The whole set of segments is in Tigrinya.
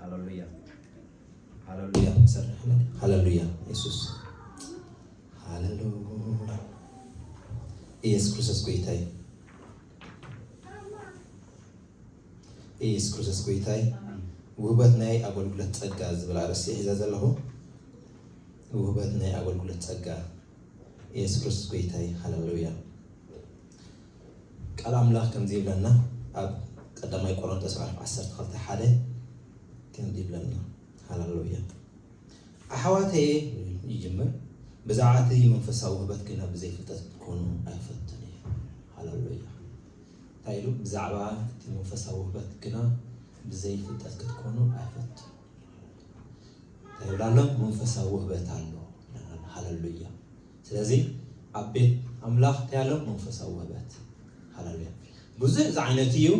ሃለሉያ ሃለሉያ ሰርሕለ ሃለሉያ የሱስ ሃለሉ ኢየሱስ ክርስቶስ ጎይታ እዩ። ኢየሱስ ክርስቶስ ጎይታ እዩ። ውህበት ናይ ኣገልግሎት ጸጋ ዝብል ኣርእስቲ ሒዘ ዘለኹ ውህበት ናይ ኣገልግሎት ጸጋ ኢየሱስ ክርስቶስ ጎይታ እዩ። ሃለሉያ ቃል ኣምላኽ ከምዚ ይብለና ኣብ ቀዳማይ ቆረንቶስ ምዕራፍ ዓሰርተ ክልተ ሓደ ከምዚ ይብለና ሃላሎያ ኣሕዋተየ ይጅምር ብዛዕባ እቲ መንፈሳዊ ውህበት ግና ብዘይ ፍልጠት ክትኮኑ ኣይፈትን እዩ ሃላሎያ እንታይ ኢሉ ብዛዕባ እቲ መንፈሳዊ ውህበት ግና ብዘይ ፍልጠት ክትኮኑ ኣይፈትን እንታይ ይብላ ኣሎ መንፈሳዊ ውህበት ኣሎ ሃለሉያ ስለዚ ኣብ ቤት ኣምላኽ እንታይ ኣሎ መንፈሳዊ ውህበት ሃለሉያ ብዙሕ ዝዓይነቱ እዩ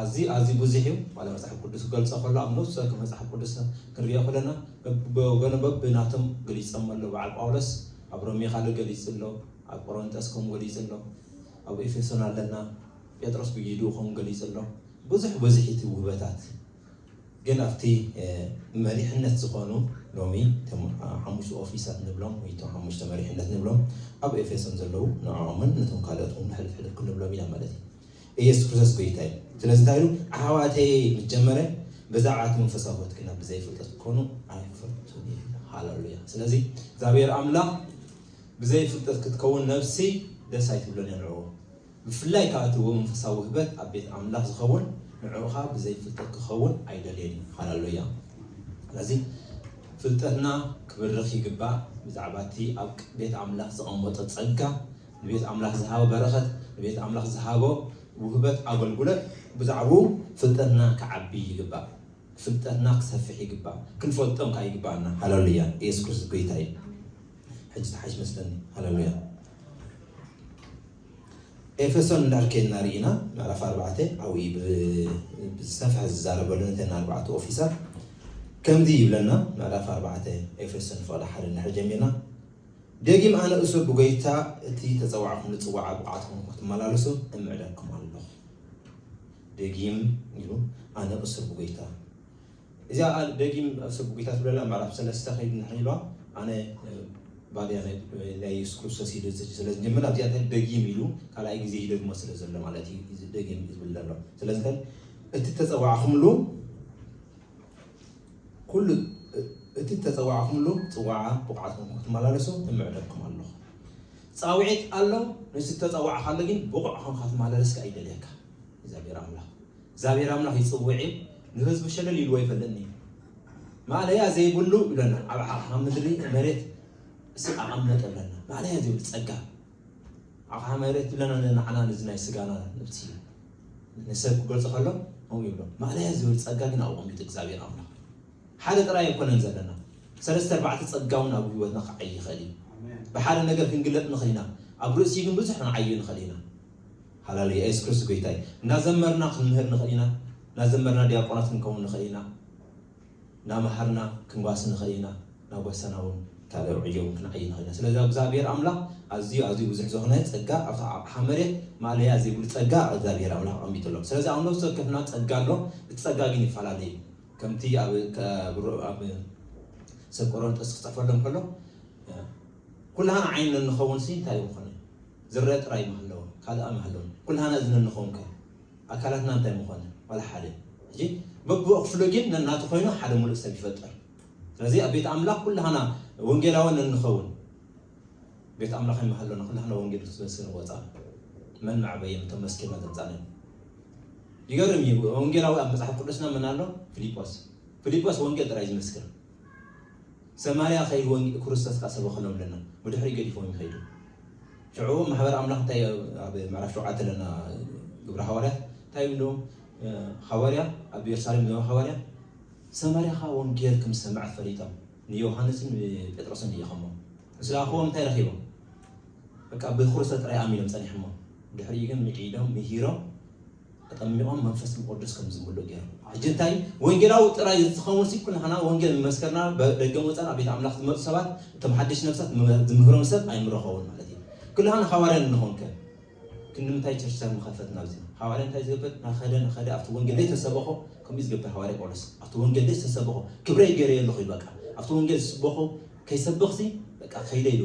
ኣዝዩ ኣዝዩ ብዙሕ እዩ ዋላ መፅሓፍ ቅዱስ ክገልፆ ከሎ ኣብ ነፍሲ ወከፍ መፅሓፍ ቅዱስ ክንሪኦ ከለና በብወገኑ በብናቶም ገሊፆም ኣሎ በዓል ጳውሎስ ኣብ ሮሜ ካልእ ገሊፁ ኣሎ ኣብ ቆሮንጦስ ከምኡ ገሊፁ ኣሎ ኣብ ኤፌሶን ኣለና ጴጥሮስ ብጊድኡ ከምኡ ገሊፁ ኣሎ ብዙሕ ብዙሕ እቲ ውህበታት ግን ኣብቲ መሪሕነት ዝኾኑ ሎሚ እቶም ሓሙሽቱ ኦፊሳት ንብሎም ወይ እቶም ሓሙሽተ መሪሕነት ንብሎም ኣብ ኤፌሶን ዘለዉ ንዕኦምን ነቶም ካልኦት እውን ሕልፍ ሕልፍ ክንብሎም ኢና ማለት እዩ። ኢየሱስ ክርስቶስ ጎይታ እዩ። ስለዚ እንታይ ኢሉ ኣሕዋተየ ምስ ጀመረ ብዛዕባ እቲ መንፈሳዊ ሕይወት ግና ብዘይፍልጠት ክትኮኑ ኣይፈቱን እዩ። ሃለሉያ። ስለዚ እግዚኣብሔር ኣምላኽ ብዘይፍልጠት ክትከውን ነፍሲ ደስ ኣይትብሎን እያ ንዕኡ ብፍላይ ከኣ እቲ ወመንፈሳዊ ውህበት ኣብ ቤት ኣምላኽ ዝኸውን ንዕዑኻ ብዘይ ፍልጠት ክኸውን ኣይደልየን እዩ። ሃለ ሉያ። ስለዚ ፍልጠትና ክብርኽ ይግባእ ብዛዕባ እቲ ኣብ ቤት ኣምላኽ ዘቐመጦ ጸጋ፣ ንቤት ኣምላኽ ዝሃቦ በረኸት፣ ንቤት ኣምላኽ ዝሃቦ ውህበት ኣገልጉሎት ብዛዕባኡ ፍልጠትና ክዓቢ ይግባእ። ፍልጠትና ክሰፍሕ ይግባእ። ክንፈልጦም ከኣ ይግባኣና። ሃለ ሉያ። ኢየሱስ ክርስቶስ ጎይታ እዩ። ሕጂ ትሓይሽ መስለኒ። ሃለ ሉያ። ኤፌሶን እንድሕር ኬድና ርኢና ምዕራፍ ኣርባዕተ ኣብኡ ብዝሰፍሐ ዝዛረበሉ ነተን ኣርባዕተ ኦፊሳት ከምዚ ይብለና ምዕራፍ ኣርባዕተ ኤፌሶን ፍቕዲ ሓደ እንድሕር ጀሚርና ደጊም ኣነ እሱር ብጎይታ እቲ ተፀዋዕኹምሉ ፅዋዓ ብቕዓትኩም ክትመላለሱ እምዕደኩም ኣለኹ ደጊም ኢሉ ኣነ እሱር ብጎይታ እዚኣ ከኣ ደጊም ኣብ ሰብ ጎይታ ትብለና ምዕራፍ ሰለስተ ከይዱ ንሕይ ኢልዋ ኣነ ባርያ ናይ ናይ የሱስ ክርስቶስ ኢሉ ስለ ዝጅምር ኣብዚኣ እንታይ ደጊም ኢሉ ካልኣይ ግዜ ይደግሞ ስለ ዘሎ ማለት እዩ እዚ ደጊም ዝብል ዘሎ ስለዚ እንታይ እቲ እተጸዋዕኹምሉ ኩሉ እቲ እተጸዋዕኹምሉ ጽዋዓ ብቑዓት ኮንኩም ክትመላለሱ እምዕደኩም ኣለኹ ጻውዒት ኣሎ ንስ እተጸዋዕካሉ ግን ብቑዕ ኮንካ ትመላለስካ ይደልየካ እግዚኣብሔር ኣምላኽ እግዚኣብሔር ኣምላኽ ይጽውዕ እዩ ንህዝቡ ሸለል ኢልዎ ኣይፈልጥን እዩ ማእለያ ዘይብሉ ይብለና ኣብ ዓቕሓ ምድሪ መሬት እሱ ኣቐመጠ ይብለና ማእለያ ዘይብሉ ጸጋ ዓቕሓ መሬት ይብለና ንዓና እዚ ናይ ስጋና ነብሲ ንሰብ ክገልጾ ከሎ ከምኡ ይብሎ ማእለያ ዝብል ጸጋ ግን ኣብ ኣቐሚጡ እግዚኣብሔር ኣምላኽ ሓደ ጥራይ ኣይኮነን ዘለና ሰለስተ ኣርባዕተ ጸጋ እውን ኣብ ህይወትና ክዓይ ይኽእል እዩ ብሓደ ነገር ክንግለጥ ንኽእል ኢና ኣብ ርእሲ ግን ብዙሕ ክንዓዩ ንኽእል ኢና ሃላሉያ የሱስ ክርስቶስ ጎይታ እዩ። እናዘመርና ክንምህር ንኽእል ኢና፣ እናዘመርና ዲያቆናት ክንከውን ንኽእል ኢና፣ እናመሃርና ክንጓሲ ንኽእል ኢና፣ እናጓሰና እውን ካልእ ዕዮ እውን ክንዓይ ንኽእል ኢና። ስለዚ እግዚኣብሔር ኣምላኽ ኣዝዩ ኣዝዩ ብዙሕ ዝኾነ ጸጋ ኣብታ ኣቕሓ መሬት ማእለያ ዘይብሉ ጸጋ እግዚኣብሔር ኣምላኽ ኣቐሚጡ ኣሎ። ስለዚ ኣብ ነፍሲ ወከፍና ጸጋ ኣሎ፣ እቲ ጸጋ ግን ይፈላለ እዩ። ከምቲ ኣብ ኣብ ሰብ ቆሮንጦስ ክጽሕፈሎም ከሎ ኩላህና ዓይኒ ንንኸውንሲ እንታይ እዩ ክኾን እዩ? ዝረኣ ጥራይ ምሃለወ ካልኣ ምሃለወን ኩልሃና እዝነ ንከውን ከ ኣካላትና እንታይ ምኮነ ዋላ ሓደ ሕጂ በብኡ ክፍሉ ግን ነናቱ ኮይኑ ሓደ ሙሉእ ሰብ ይፈጥር ስለዚ ኣብ ቤት ኣምላኽ ኩልሃና ወንጌላውያን እንኸውን ቤት ኣምላኽ ይመሃለና ኩላህና ወንጌል ክትበስር ወፃ መን መዕበየን እቶም መስኪና ዘምፃለን ይገርም እዩ ወንጌላዊ ኣብ መፅሓፍ ቅዱስና መን ኣሎ ፊልጶስ ፊልጶስ ወንጌል ጥራይ ዝመስክር ሰማርያ ኸይድ ወንጌ ኩርስቶስ ከኣ ሰበኸሎም ለና ብድሕሪኡ ገዲፎም ይኸይዱ ሽዑ ማሕበር ኣምላኽ እንታይ ኣብ ምዕራፍ ሸውዓተ ለና ግብረ ሃዋርያት እንታይ ይብሉ ሃዋርያ ኣብ የሩሳሌም ዘበ ሃዋርያ ሰማርያ ኸኣ ወንጌል ከም ዝሰምዐት ፈሊጦም ንዮሃንስን ጴጥሮስን ልኢኸሞ ምስ ለኣኽዎም እንታይ ረኺቦም በቃ ብክርስቶስ ጥራይ ኣሚኖም ጸኒሖሞ ድሕሪኡ ግን ምዒዶም ምሂሮም ኣጠሚቖም መንፈስ ቁዱስ ከም ዝምልኡ ገይሮም ሕጂ እንታይ እዩ ወንጌላዊ ጥራይ ዝኸውንሲ ኩላህና ወንጌል ምመስከርና ደገን ወጻን ኣብ ቤት ኣምላኽ ዝመጹ ሰባት እቶም ሓደሽቲ ነፍሳት ዝምህሮም ሰብ ኣይምረኸቡን ማለት እዩ ኩላህና ሃዋርያን እንኾን ከ ክንምንታይ ቸርችታት ምኸፈትና ኣብዚ ሃዋርያ እንታይ ዝገብር ናኸደ ናኸደ ኣብቲ ወንጌል ደይ ተሰበኾ ከምኡ ዝገብር ሃዋርያ ጳውሎስ ኣብቲ ወንጌል ደይ ዝተሰበኾ ክብረይ ገይረዮ ኣለኹ በቃ ኣብቲ ወንጌል ዝስበኾ ከይሰበኽሲ በቃ ከይደ ኢሉ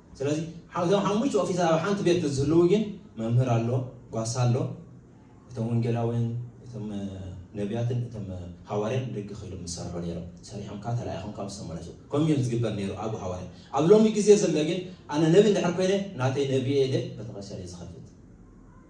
ስለዚ እዞም ሓሙሽተ ኦፊሳት ኣብ ሓንቲ ቤት ንዝህልው ግን መምህር ኣሎ፣ ጓሳ ኣሎ፣ እቶም ወንጌላውያን እቶም ነቢያትን እቶም ሃዋርያን ደገ ከይዶም ዝሰርሑ ነይሮም ሰሪሖም ካብ ተላኢኾም ካብ ዝተመለሱ ከምኡ እዮም ዝግበር ነይሩ ኣብ ሃዋርያ ኣብ ሎሚ ግዜ ዘሎ ግን ኣነ ነቢ እንድሕር ኮይነ ናተይ ነቢየ ኢለ ቤተክርስትያን እዩ ዝኸፍት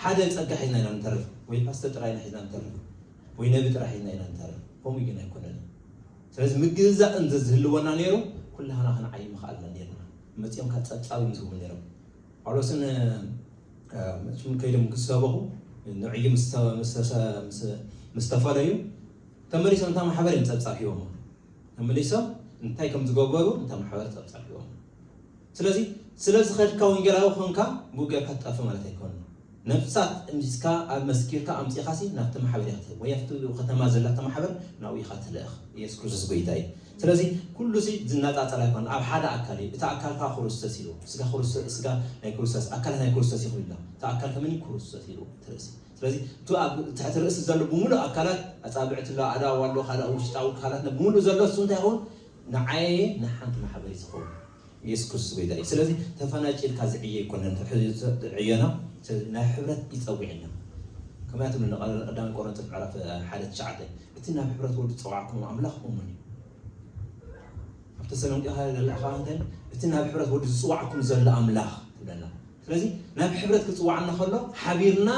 ሓደ ጸጋ ሒዝና ኢና ንተርፍ ወይ ፓስተ ጥራይ ኢና ሒዝና ንተርፍ ወይ ነቢ ጥራይ ሒዝና ኢና ንተርፍ ከምኡ ግን ኣይኮነን ስለዚ ምግዛእ እንተ ዝህልወና ነይሩ ኩላህና ክንዓይ ምኽኣልና ነርና መጺኦም ካብ ጸብጻብ እዮም ዝህቡ ነይሮም ጳውሎስን ሽም ከይዶም ክሰበኹ ንዕዩ ምስ ተፈለዩ ተመሊሶም እታ ማሕበር እዮም ፀብፃብ ሂቦም ተመሊሶም እንታይ ከም ዝገበሩ እታ ማሕበር ፀብፃብ ሂቦም ስለዚ ስለ ዝኸድካ ወንጌላዊ ኮንካ ብኡ ጌርካ ትጠፍእ ማለት ኣይኮነን። ነፍሳት እምዚዝካ ኣብ መስኪርካ ኣምጺእካሲ ናብቲ ማሕበር ኢኻ ትህብ ወይ ኣብቲ ብኡ ከተማ ዘላቶ ማሕበር ናብኡ ኢኻ ትልእኽ። ኢየሱስ ክርስቶስ ጎይታ እዩ። ስለዚ ኩሉሲ ዝነጻጸል ኣይኮነን ኣብ ሓደ ኣካል እዩ። እቲ ኣካል ከኣ ኩሩስተስ ኢልዎ። ስጋ ኩሩስተ ስጋ ናይ ኩሩስተስ ኣካለ ናይ ኩሩስተስ ኢኹም ኢልና። እቲ ኣካል ከመን እዩ ኩሩስተስ ኢልዎ እቲ ርእሲ። ስለዚ እቲ ኣብ ትሕቲ ርእሲ ዘሎ ብምሉእ ኣካላት ኣጻብዕቲ ኣሎ ኣእዳው ኣሎ ካልእ ውሽጣዊ ክሃላት ን ብምሉእ ዘሎ እሱ እንታይ ይኸውን ንዓየ ንሓንቲ ማሕበር ዝኸውን ኢየሱስ ክርስቶስ ጎይታ እዩ ስለዚ ተፋናጭ ኢልካ ዝዕየ ኣይኮነን ዕዮና ስለዚ ናብ ሕብረት እዩ ጸዊዕና ከመያ ትብሉ እንደ ቀዳማይ ቆሮንቶስ ምዕራፍ ሓደ ትሽዓተ እቲ ናብ ሕብረት ወዱ ዝጸዋዕኩም ኣምላኽ እሙን እዩ ኣብ ተሰሎንቄ ካለ ዘላ ካባንተን እቲ ናብ ሕብረት ወዱ ዝጽዋዕኩም ዘሎ ኣምላኽ ትብለና ስለዚ ናብ ሕብረት ክጽውዓና ከሎ ሓቢርና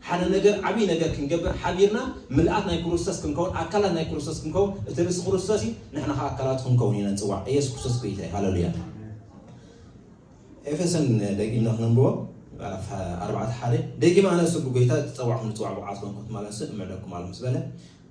ሓደ ነገር ዓብይ ነገር ክንገብር ሓቢርና ምልኣት ናይ ኩሩስተስ ክንከውን ኣካላት ናይ ኩሩስተስ ክንከውን እቲ ርእሲ ኩሩስተስ እዩ ንሕና ከኣ ኣካላቱ ክንከውን ኢና ንጽዋዕ እየሱስ ኩሩስተስ ጎይታ እዩ ሃለሉያ ኤፌሶን ደጊምና ክነንብቦ ምዕራፍ ኣርባዕተ ሓደ ደጊም ኣነ እሱ ብጎይታ ተጸዋዕኩም ንጽዋዕ ብቕዓት ኮንኩም ትማለሱ እምዕደኩም ኣለኹ ዝበለ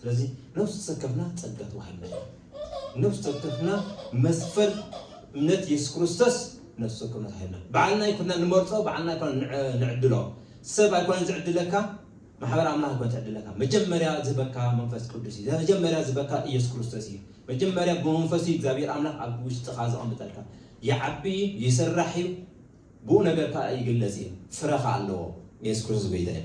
ስለዚ ነፍሲ ወከፍና ጸጋ ተዋሂብና ኢና። ነፍሲ ወከፍና መስፈር እምነት የሱስ ክርስቶስ ነፍሲ ወከፍና ተዋሂብና። ባዕልና ኣይኮናን ንመርጾ፣ ባዕልና ኣይኮናን ንዕድሎ። ሰብ ኣይኮነን ዝዕድለካ፣ ማሕበር ኣምላኽ ኣይኮነን ትዕድለካ። መጀመርያ ዝህበካ መንፈስ ቅዱስ እዩ። መጀመርያ ዝህበካ ኢየሱስ ክርስቶስ እዩ። መጀመርያ ብመንፈሱ እዩ እግዚኣብሔር ኣምላኽ ኣብ ውሽጥኻ ዘቐምጠልካ። ይዓቢ እዩ፣ ይስራሕ እዩ፣ ብኡ ነገር ከኣ ይግለጽ እዩ። ፍረ ከኣ ኣለዎ። የሱስ ክርስቶስ ጎይታ እዩ።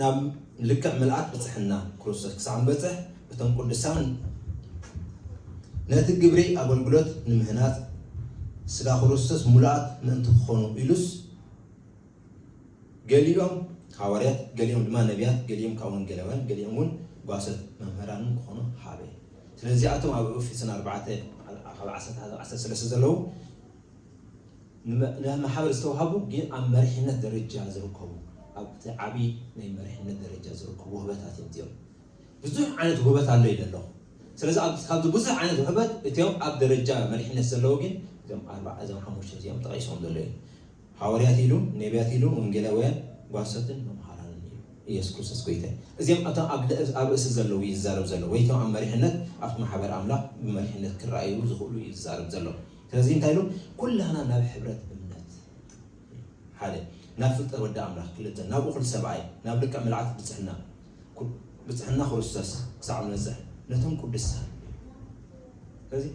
ናብ ልክዕ ምልኣት ብፅሕና ክርስቶስ ክሳዕ ንበፅሕ እቶም ቅዱሳን ነቲ ግብሪ ኣገልግሎት ንምህናፅ ስጋ ክርስቶስ ሙሉኣት ምእንቲ ክኾኑ ኢሉስ ገሊኦም ሃዋርያት፣ ገሊኦም ድማ ነቢያት፣ ገሊኦም ካብ ወንጌላውያን፣ ገሊኦም እውን ጓሶት መምህራንን ክኾኑ ሃበ። ስለዚኣቶም ኣብ ኤፌሶን ኣርባዕተ ካብ ዓሰርተ ዓሰርተ ሰለስተ ዘለዉ ነቲ ማሕበር ዝተዋህቡ ግን ኣብ መሪሕነት ደረጃ ዝርከቡ ኣብ እቲ ዓቢ ናይ መሪሕነት ደረጃ ዝርከቡ ውህበታት እዮም እዚኦም ብዙሕ ዓይነት ውህበት ኣሎ ኢለ ኣለኹ ስለዚ ኣብ ካብዚ ብዙሕ ዓይነት ውህበት እቲኦም ኣብ ደረጃ መሪሕነት ዘለዉ ግን እዞም ኣርባዓ እዞም ሓሙሽተ እዚኦም ተቐይሶም ዘሎ እዩ ሃዋርያት ኢሉ ነቢያት ኢሉ ወንጌላውያን ጓሶትን መምሃራንን እዩ ኢየሱስ ክርስቶስ ጎይታ እዚኦም እቶም ኣብ ኣብ ርእሲ ዘለዉ እዩ ዝዛረብ ዘሎ ወይ እቶም ኣብ መሪሕነት ኣብቲ ማሕበር ኣምላኽ ብመሪሕነት ክረኣዩ ዝኽእሉ እዩ ዝዛረብ ዘሎ ስለዚ እንታይ ኢሉ ኩላህና ናብ ሕብረት እምነት ሓደ ናብ ፍልጠት ወዲ ኣምላኽ ክልተ ናብ እኹል ሰብኣይ ናብ ልክዕ ምልዓት ብፅሕና ብፅሕና ክርስቶስ ክሳዕ ንበፅሕ ነቶም ቅዱሳን ስለዚ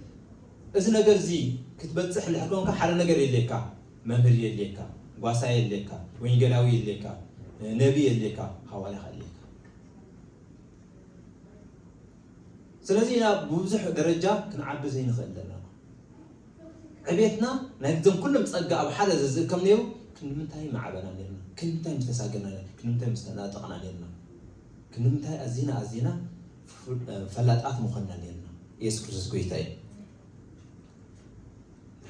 እዚ ነገር እዚ ክትበፅሕ እንድሕር ኮንካ ሓደ ነገር የድልየካ መምህር የድልየካ ጓሳ የድልየካ ወንጌላዊ የድልየካ ነቢ የድልየካ ሃዋርያ የድልየካ ስለዚ ኢና ብብዙሕ ደረጃ ክንዓቢ ዘይንኽእል ዘለና። ዕቤትና ናይዘም ኩሎም ጸጋ ኣብ ሓደ ዘዝእከም ነይሩ ክንድምንታይ ምዓበና ነርና፣ ክንድምንታይ ምተሳገና ነርና፣ ክንድምንታይ ምስተናጠቕና ነርና፣ ክንድምንታይ ኣዚና ኣዚና ፈላጣት ምኾንና ነርና። ኢየሱስ ክርስቶስ ጎይታ እዩ።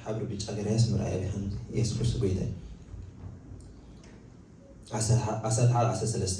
ሓብሪ ብጫ ገራያስ ምርኣይ ኣብይሓን ኢየሱስ ክርስቶስ ጎይታ እዩ። ዓሰርተ ሓደ ዓሰርተ ሰለስተ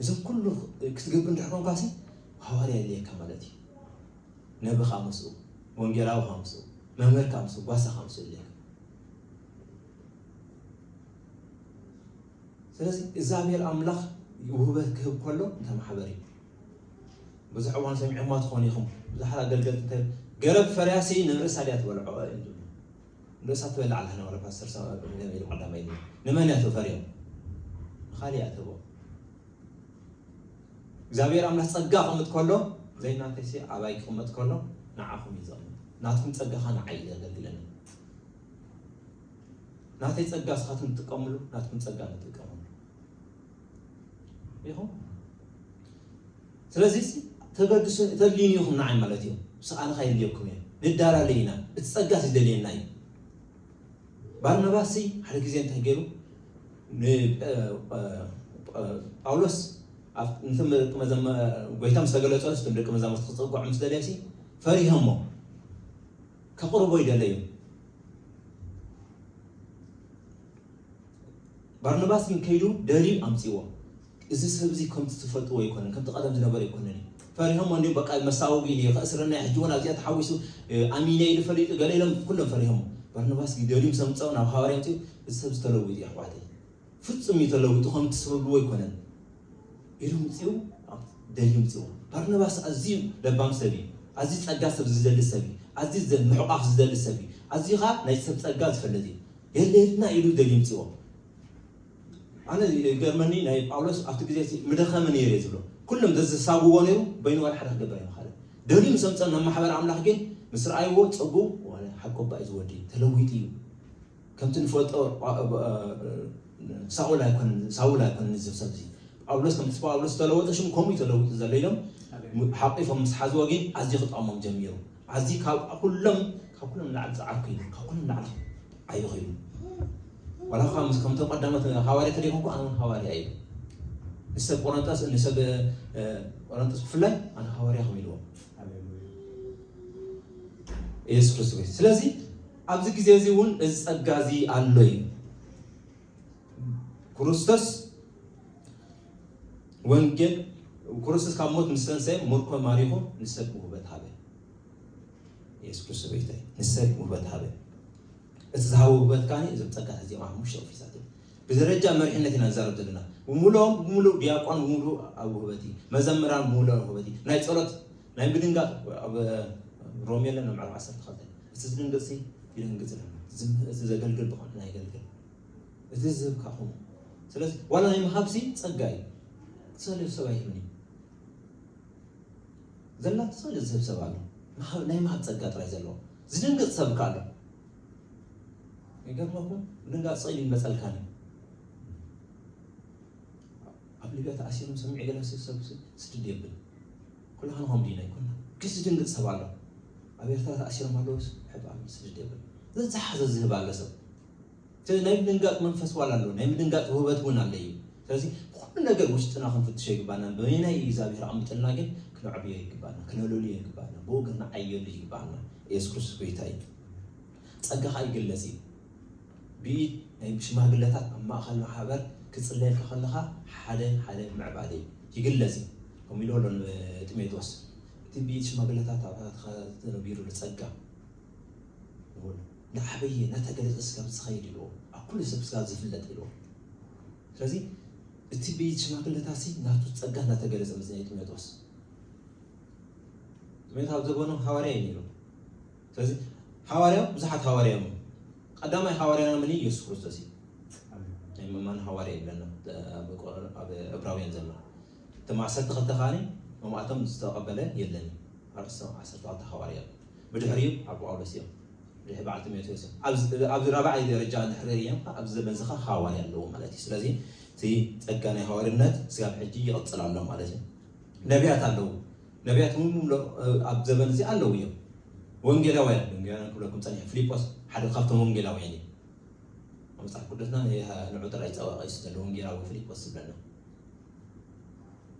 እዚ ኩሉ ክትገብር እንድሕር ኮንካሲ ሃዋርያ የድልየካ ማለት እዩ። ነቢ ከኣ ምስኡ፣ ወንጌላዊ ከኣ ምስኡ፣ መምህር ከኣ ምስኡ፣ ጓሳ ከኣ ምስኡ የድልየካ። ስለዚ እግዚኣብሔር ኣምላኽ ውህበት ክህብ ከሎ እንታይ ማሕበር እዩ ብዙሕ እዋን ሰሚዕኹማ ትኾኑ ኢኹም ብዙሓት ኣገልገልቲ እንታይ ገረብ ፈርያሲ ንርእሳ ድያ ትበልዖ እዮም ዝብሉ ርእሳ ትበልዕ ኣላ ንቕረ ፓስተር ሳሙኤል ንገለ ኢሉ ቀዳማይ ኢሉ ንመን እያ ተፈርዮም ንኻልእ እያ ተቦ እግዚኣብሔር ኣምላኽ ጸጋ ቅምጥ ከሎ ዘይናተይሲ ኣባይ ክቕመጥ ከሎ ንዓኹም እዩ ዘቕምጥ ናትኩም ጸጋኻ ንዓይ እዩ ዘገልግለኒ ናተይ ጸጋ ስኻትኩም ትጥቀምሉ ናትኩም ጸጋ ንጥቀምሉ ኢኹም ስለዚ ተገድሱ ተድልዩኒ ኢኹም ንዓይ ማለት እዩ ስቃልኻ የድልየኩም እየ ንዳላለይ ኢና እቲ ጸጋስ ይደልየና እዩ ባርናባስሲ ሓደ ግዜ እንታይ ገይሩ ጳውሎስ ንቶም ደቂ መዘመ ጎይታ ምስ ተገለጸሉ ስቶም ደቂ መዛሙርቲ ክጸጓዑ ምስ ደለየሲ ፈሪሆሞ ከቕርቦ ይደለዩ ባርናባስ ግን ከይዱ ደልዩ ኣምጺእዎ። እዚ ሰብ እዚ ከምቲ ትፈልጥዎ ኣይኮነን፣ ከምቲ ቀደም ዝነበረ ኣይኮነን እዩ። ፈሪሆሞ እንድዮም በቃ መሳውቢ እዩ፣ ከእስረና እዩ፣ ሕጂ እውን ኣብዚኣ ተሓዊሱ ኣሚነ ኢሉ ፈሊጡ ገለ ኢሎም ኩሎም ፈሪሆሞ። ባርናባስ ግን ደልዩ ምስ ኣምጸኦ ናብ ሃዋርያ ኣምጺኡ እዚ ሰብ እዚ ተለዊጡ እዩ ኣሕዋተይ፣ ፍጹም እዩ ተለዊጡ ከምቲ ትብልዎ ኣይኮነን ኢሉ ኣምጺኡ ደልዩ ኣምጺእዎ። ባርናባስ ኣዝዩ ለባም ሰብ እዩ፣ ኣዝዩ ጸጋ ሰብ ዝደሊ ሰብ እዩ፣ ኣዝዩ ምሕቋፍ ዝደሊ ሰብ እዩ፣ ኣዝዩ ከኣ ናይ ሰብ ጸጋ ዝፈልጥ እዩ። የድልየትና ኢሉ ደጊምጽዎ ኣነ ገርመኒ ናይ ጳውሎስ ኣብቲ ግዜ እቲ ምደኸመ ነይሩ እየ ዝብሎ ኩሎም ዘዘሳብዎ ነይሩ በይኑ ዋላ ሓደ ክገብር ኣይምኻለ ደልዩ ምስ ኣምፀ ናብ ማሕበር ኣምላኽ ግን ምስ ረኣይዎ ፀጉ ዋላ ሓኮባ እዩ ዝወዲ ተለዊጡ እዩ ከምቲ ንፈልጦ ሳውል ኣይኮነን ሳውል ኣይኮነን እዚ ሰብ እዚ ጳውሎስ ከምቲ ጳውሎስ ዝተለወጠ ሽም ከምኡ ተለዊጡ ዘሎ ኢሎም ሓቂፎም ምስ ሓዝዎ ግን ኣዝዩ ክጠቕሞም ጀሚሩ ኣዚ ካብ ኩሎም ካብ ኩሎም ንላዕሊ ጻዓርኩ እዩ ካብ ኩሎም ንላዕሊ ዓይኹ እዩ ዋላ እኳ ምስ ከምቶም ቀዳሞት ሃዋርያ ተደይኹ እኮ ኣነ ሃዋርያ እዩ ንሰብ ቆረንጦስ ንሰብ ቆረንጦስ ብፍላይ ኣነ ሃዋርያ ከም ኢልዎ ኢየሱስ ክርስቶስ ስለዚ ኣብዚ ግዜ እዚ እውን እዚ ጸጋ እዚ ኣሎ እዩ ክርስቶስ ወንጌል ክርስቶስ ካብ ሞት ምስ ተንሰየ ምርኮ ማሪኹ ንሰብ ውህበት ሃበ የሱስ ክርስቶስ ቤተይ ንሰብ ውህበት ሃበ እቲ ዝሃበ ውህበት ካኒ እዞም ፀጋታት እዚኦም ሓሙሽተ ኦፊሳት እዮም ብደረጃ መሪሕነት ኢና ንዛረብ ዘለና ብምሉኦም ብምሉእ ዲያቆን ብምሉእ ኣብ ውህበት እዩ መዘምራን ብምሉእ ኣብ ውህበት እዩ ናይ ፀሎት ናይ ምድንጋፅ ኣብ ሮሜ ኣለና ምዕራፍ ዓሰርተ ክልተ እቲ ዝድንግፅ ይድንግፅ ኣለና እዚ ዘገልግል ብኮነ ናይ ገልግል እቲ ዝህብካ ኹን ስለዚ ዋላ ናይ ምሃብሲ ጸጋ እዩ ትሰልዮ ሰብ ኣይህብን እዩ ዘላ ትሰልዮ ዝህብ ሰብ ኣሎ ናይ ምሃብ ጸጋ ጥራይ ዘለዎ ዝድንግጽ ሰብ እካ ኣሎ ይገርመኩም ምድንጋጽ ጸይሉ ይመጸልካን እዩ ኣብ ሊብያ ተኣሲሮም ሰሚዕ ገለ ሰብ ስድድ የብል ኩላኻን ሆም ዲና ይኮና ግን ዝድንግጽ ሰብ ኣሎ ኣብ ኤርትራ ተኣሲሮም ኣለውስ ሕባብ ስድድ የብል ዘዝሓዘ ዝህብ ኣለ ሰብ ስለዚ ናይ ምድንጋጽ መንፈስ ዋላ ኣሎ፣ ናይ ምድንጋጽ ውህበት እውን ኣሎ እዩ። ስለዚ ብኹሉ ነገር ውሽጥና ክንፍትሾ ይግባና። በበየናይ እዩ እግዚኣብሔር ኣቕሚጥልና ግን ክነዕብዮ ይግባና፣ ክነለልዮ ይግባና፣ ብኡ ክንዓየሉ ይግባና። ኢየሱስ ክርስቶስ ጎይታ እዩ። ጸጋ ከኣ ይግለጽ እዩ። ብኢድ ናይ ሽማግለታት ኣብ ማእከል ማሕበር ክጽለየልካ ከለኻ ሓደ ሓደ ምዕባለ እዩ ይግለጽ እዩ። ከምኡ ኢልዎ ኣሎ ንጢሞቴዎስ እቲ ብኢድ ሽማግለታት ኣብታትካ ዝነቢሩ ጸጋ ንኹሉ ናዓበየ ናተገለፀ ስጋብ ዝኸይድ እልዎ ኣብ ኩሉ ሰብ ስጋብ ዝፍለጥ እልዎ ስለዚ እቲ ቤት ሽማግለታሲ ናቱ ፀጋ ናተገለፀ መፅንዒ ጢሞቴዎስ ጢሞቴዎስ ኣብ ዘበኑ ሃዋርያ እዩ ነይሩ ስለዚ ሃዋርያ ብዙሓት ሃዋርያ እዮም ቀዳማይ ሃዋርያና ምን እዩ ኢየሱስ ክርስቶስ እዩ ናይ መማን ሃዋርያ ይብለና ኣብ እብራውያን ዘሎ እቶም ዓሰርተ ክልተ ከዓኒ መማእቶም ዝተቐበለ የለን ዓሰርተ ክልተ ሃዋርያ ብድሕሪኡ ኣብ ጳውሎስ እዮም ድሕሪ በዓል ጢሞቴዎስ እዮም ኣብዚ ኣብዚ ራብዓይ ደረጃ እንድሕር ደይም ከኣ ኣብዚ ዘመን ዝኻ ሃዋርያ ኣለዎ ማለት እዩ ስለዚ እቲ ጸጋ ናይ ሃዋርነት ስጋብ ሕጂ ይቕጽል ኣሎ ማለት እዩ ነቢያት ኣለዉ ነቢያት እውን ምምሎ ኣብ ዘመን እዚ ኣለዉ እዮም ወንጌላውያን ወንጌላውያን ክብለኩም ጸኒሐ ፊልጶስ ሓደ ካብቶም ወንጌላውያን እዩ ኣብ መጽሓፍ ቅዱስና ንዑ ጥራይ ጸዋቒ እዩ ዘሎ ወንጌላዊ ፊልጶስ ዝብለና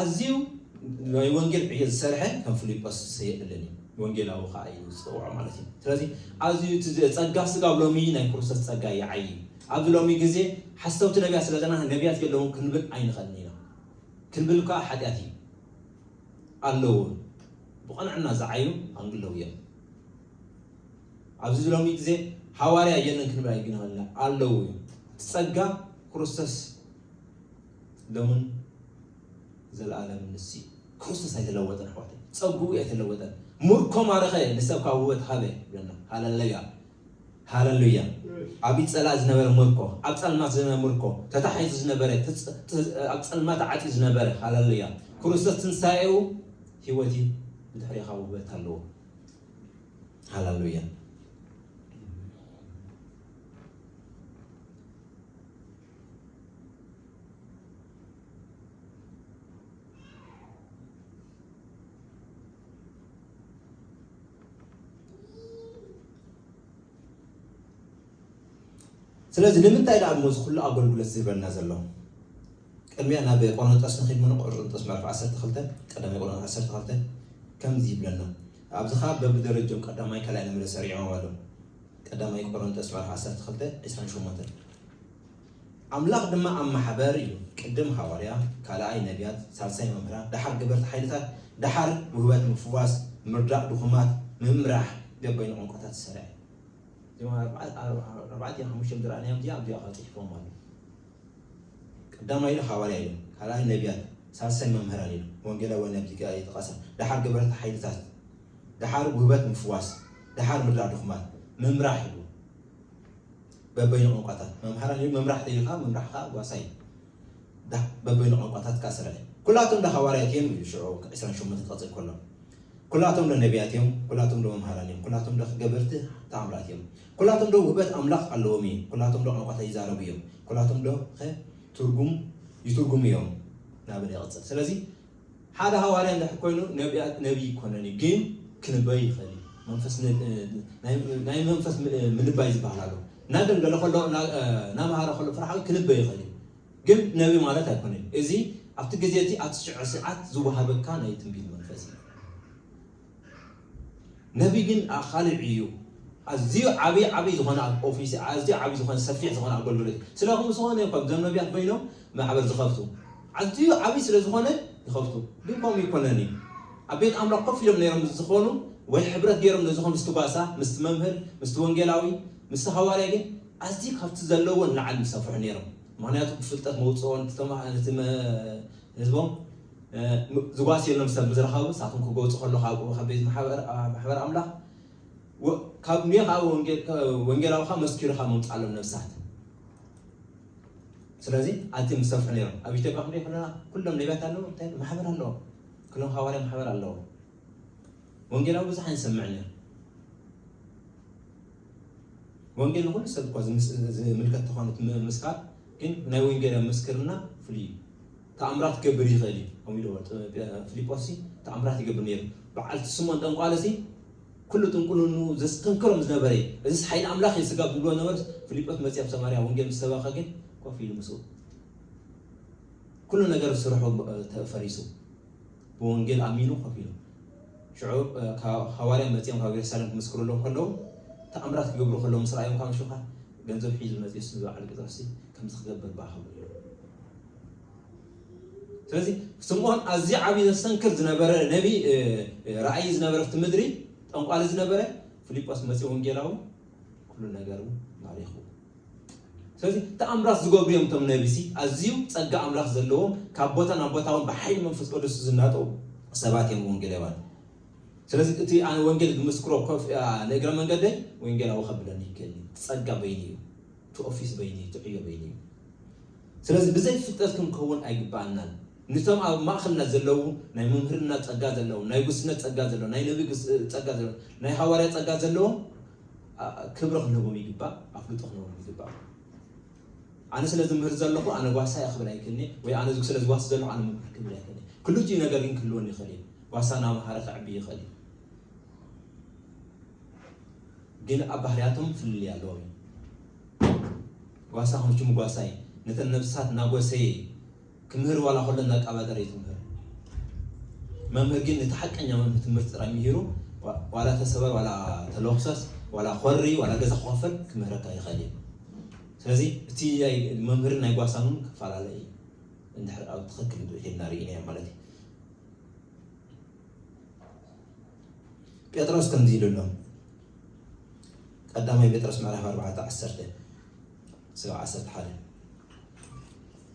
ኣዝዩ ናይ ወንጌል ዕዮ ዝሰርሐ ከም ፍሊጶስ ሰየእልን እዩ ወንጌላዊ ከኣ እዩ ዝጽውዖ ማለት እዩ ስለዚ ኣዝዩ እቲ ጸጋ ስጋ ኣብ ሎሚ ናይ ክርስቶስ ጸጋ ይዓይ ኣብዚ ሎሚ ግዜ ሓሰውቲ ነቢያት ስለ ዘለና ነቢያት የለውን ክንብል ኣይንኸልን ኢና ክንብል ከኣ ሓጢኣት እዩ ኣለዉ ብቐንዕና ዝዓዩ ኣንግለው እዮም ኣብዚ ሎሚ ግዜ ሃዋርያ የለን ክንብል ኣይግንኸልና ኣለዉ እዩ ጸጋ ክርስቶስ ሎምን ዘልኣለምን ንሱ እዩ። ክርስቶስ ኣይተለወጠን ኣሕዋተይ፣ ጸግኡ ኣይተለወጠን። ምርኮ ማረኸ ንሰብ ካብ ውበት ሃበ ይብለና። ሃለለያ ሃለሉያ። ኣብ ኢድ ጸላኢ ዝነበረ ምርኮ፣ ኣብ ጸልማት ዝነበረ ምርኮ፣ ተታሒዙ ዝነበረ፣ ኣብ ጸልማት ተዓጽዩ ዝነበረ፣ ሃለሉያ። ክርስቶስ ትንሳኤኡ ህይወት እዩ፣ ብድሕሬኻ ውበት ኣለዎ። ሃለሉያ። ስለዚ ንምንታይ ደኣ እሞ እዚ ኩሉ ኣገልግሎት ዝህበና ዘሎ ቅድሚያ ናብ ቆሮንጦስ ንኺድ ምኑ ቆሮንጦስ ምዕራፍ 12 ቀዳማይ ቆሮንጦስ 12 ከምዚ ይብለና ኣብዚ ከዓ በብደረጆም ቀዳማይ ካልኣይ ንብለ ሰሪዖም ኣሎ ቀዳማይ ቆረንቶስ ምዕራፍ ዓሰርተ ክልተ ዕስራን ሸሞንተን ኣምላኽ ድማ ኣብ ማሕበር እዩ ቅድም ሃዋርያ ካልኣይ ነቢያት ሳልሳይ መምህራን ደሓር ገበርቲ ሓይልታት ደሓር ውህበት ምፍዋስ ምርዳእ ድኹማት ምምራሕ ገበይኑ ቋንቋታት ዝሰርዐ እዩ እዚኦም ኣርባዕቲኦም ሓሙሽቲኦም ዝረኣናዮም እዚኣ ኣብዚኣ ካብ ፅሒፎም ኣሎ ቀዳማይ ኢሉ ሃዋርያ ኢሉ ካልኣይ ነቢያት ሳልሳይ መምህራን ኢሉ ወንጌላዊ ነቢ ይጠቐሰ ደሓር ገበርቲ ሓይልታት ደሓር ጉህበት ምፍዋስ፣ ደሓር ምድራ ድኹማት፣ ምምራሕ ኢሉ በበይኑ ቋንቋታት መምሃራን እዩ ምምራሕ ተይኻ ምምራሕ ከዓ ጓሳ እዩ በበይኑ ቋንቋታት ከዓ ስራሕ እዩ ኩላቶም ዶ ሃዋርያት እዮም እዩ ሽዑ 28 ክቐፅል ከሎ ኩላቶም ዶ ነቢያት እዮም ኩላቶም ዶ መምሃራን እዮም ኩላቶም ዶ ገበርቲ ተኣምራት እዮም ኩላቶም ዶ ውህበት ኣምላኽ ኣለዎም እዩ ኩላቶም ዶ ቋንቋታት ይዛረቡ እዮም ኩላቶም ዶ ትርጉም ይትርጉሙ እዮም ናበለ ይቕፅል ስለዚ ሓደ ሃዋርያ እንድሕር ኮይኑ ነብያት ነብይ ይኮነን እዩ ግን ክንበይ ይኽእል እዩ መንፈስ ን- ናይ- ናይ መንፈስ ም- ምንባይ ዝበሃል ኣሎ እናገንገለ ከሎ እና- እናመሃረ ከሎ ፍርሓዊ ክንበይ ይኽእል እዩ ግን ነብይ ማለት ኣይኮነን እዩ። እዚ ኣብቲ ግዜ እቲ ኣብቲ ሽዑ ሰዓት ዝወሃበካ ናይ ትንቢት መንፈስ እዩ ነቢ ግን ኣኻልዕ እዩ ኣዝዩ ዓቢ ዓቢ ዝኾነ ኦፊስ ኣዝዩ ዓቢ ዝኾነ ሰፊሕ ዝኾነ ኣገልግሎት እዩ ስለኹም ዝኾነ ይኾን ዞም ነቢያት ኮይኖም ማሕበር ዝኸፍቱ ኣዝዩ ዓቢ ስለ ዝኾነ ይኸፍቱ ግን ከምኡ ይኮነን እዩ ኣብ ቤት ኣምላኽ ኮፍ ኢሎም ነይሮም ምስ ዝኾኑ ወይ ሕብረት ገይሮም ነዝኾም ምስቲ ጓሳ ምስቲ መምህር ምስቲ ወንጌላዊ ምስቲ ሃዋርያ ግን ኣዝዩ ካብቲ ዘለዎን ላዕሊ ምሰፍሑ ነይሮም ምክንያቱ ብፍልጠት መውጽኦን ህዝቦም ዝጓስየሎም ሰብ ምስ ረኸቡ፣ ንሳቶም ክጎብጡ ከለዉ ካብኡ ካብ ቤት ማሕበር ኣምላኽ ካብ ኒዮ ከኣ ወንጌላዊ ከኣ መስኪሩ ካብ ምምጻሎም ነብሳት ስለዚ ኣዝዮም ዝሰፍሑ ነይሮም ኣብ ኢትዮጵያ ክንሪኦ ከለና ኩሎም ነቢያት ኣለዎ እንታይ ማሕበር ኣለዎ ክሎም ሃዋርያ ማሕበር ኣለዎ ወንጌላዊ ብዙሕ ኣይንሰምዕን ኢና ወንጌል ንኹሉ ሰብ እኳ ዝምልከት ተኾነ እቲ ምስካር ግን ናይ ወንጌላዊ ምስክርና ፍሉይ እዩ ተኣምራት ክገብር ይኽእል እዩ ከምኡ ኢልዎ ፊልጶስ ተኣምራት ይገብር ነይሩ በዓል ስሞን ጠንቋለ ሲ ኩሉ ጥንቁልኑ ዘስተንክሮም ዝነበረ እዩ እዚስ ሓይሊ ኣምላኽ እዩ ስጋብ ዝብልዎ ነበርስ ፊልጶስ መፅእ ኣብ ሰማርያ ወንጌል ምስ ሰበኸ ግን ኮፍ ኢሉ ምስኡ ኩሉ ነገር ስርሑ ፈሪሱ ብወንጌል ኣሚኑ ኮፍ ኢሉ። ሽዑ ሃዋርያ መጺኦም ካብ የሩሳሌም ክምስክሩሎም ከለዉ ተኣምራት ክገብሩ ከለዉ ምስ ረኣዮም ካብ ሽኻ ገንዘብ ሒዙ መጽ ስ ዝበዓል ጴጥሮስ ከምዚ ክገብር ባ ክብሉ ኢሎም ስለዚ ስምዖን ኣዝዩ ዓብዪ ዘሰንክር ዝነበረ ነቢ ራእይ ዝነበረ ፍቲ ምድሪ ጠንቋሊ ዝነበረ ፊልጶስ መፂ ወንጌላዊ ኩሉ ነገሩ ማሪኹ ስለዚ ተኣምራት ዝገብሩ እዮም እቶም ነብሲ ኣዝዩ ጸጋ ኣምላኽ ዘለዎም ካብ ቦታ ናብ ቦታ እውን ብሓይሊ መንፈስ ቅዱስ ዝናጠው ሰባት እዮም ወንጌላውያን ስለዚ እቲ ኣነ ወንጌል ዝምስክሮ ኮፍ ንእግረ መንገደይ ወንጌላዊ ከብለኒ ይክእል እዩ ጸጋ በይኑ እዩ እቲ ኦፊስ በይኑ እዩ እቲ ዕዮ በይኑ እዩ ስለዚ ብዘይ ፍልጠት ክንከውን ኣይግባኣናን ንቶም ኣብ ማእኸልና ዘለዉ ናይ መምህርና ጸጋ ዘለዎም ናይ ጉስነት ጸጋ ዘለዎም ናይ ነቢ ጸጋ ዘለዎም ናይ ሃዋርያ ጸጋ ዘለዎም ክብሪ ክንህቦም ይግባእ፣ ኣፍልጦ ክንህቦም ይግባእ። ኣነ ስለ ዝምህር ዘለኹ ኣነ ጓሳ እየ ክብል ኣይክእልኒ ወይ ኣነ ስለ ዝጓስ ዘለኹ ኣነ ምምህር ክብል ኣይክእልኒ። ክልቲኡ ነገር ግን ክህልወኒ ይኽእል እዩ። ጓሳ እናምሃረ ክዕቢ ይኽእል እዩ፣ ግን ኣብ ባህርያቶም ፍልልይ ኣለዎም እዩ። ጓሳ ክንቹ ምጓሳይ ነተን ነብስታት እናጎሰየ ክምህር ዋላ ከሎ እንዳቃባጠረ እዩ ዝምህር መምህር ግን እቲ ሓቀኛ መምህር ትምህርቲ ጥራይ ምሂሩ ዋላ ተሰበር ዋላ ተለኩሰስ ዋላ ኮሪ ዋላ ገዛ ክኸፈል ክምህረካ ይኽእል እዩ ስለዚ እቲ መምህርን ናይ ጓሳን እውን ክፈላለ እዩ እንድሕር ኣብ ትኽክል ሄድና ርኢናዮ ማለት እዩ ጴጥሮስ ከምዚ ኢሉ ኣሎ ቀዳማይ ጴጥሮስ ምዕራፍ 4 11 ስጋብ 11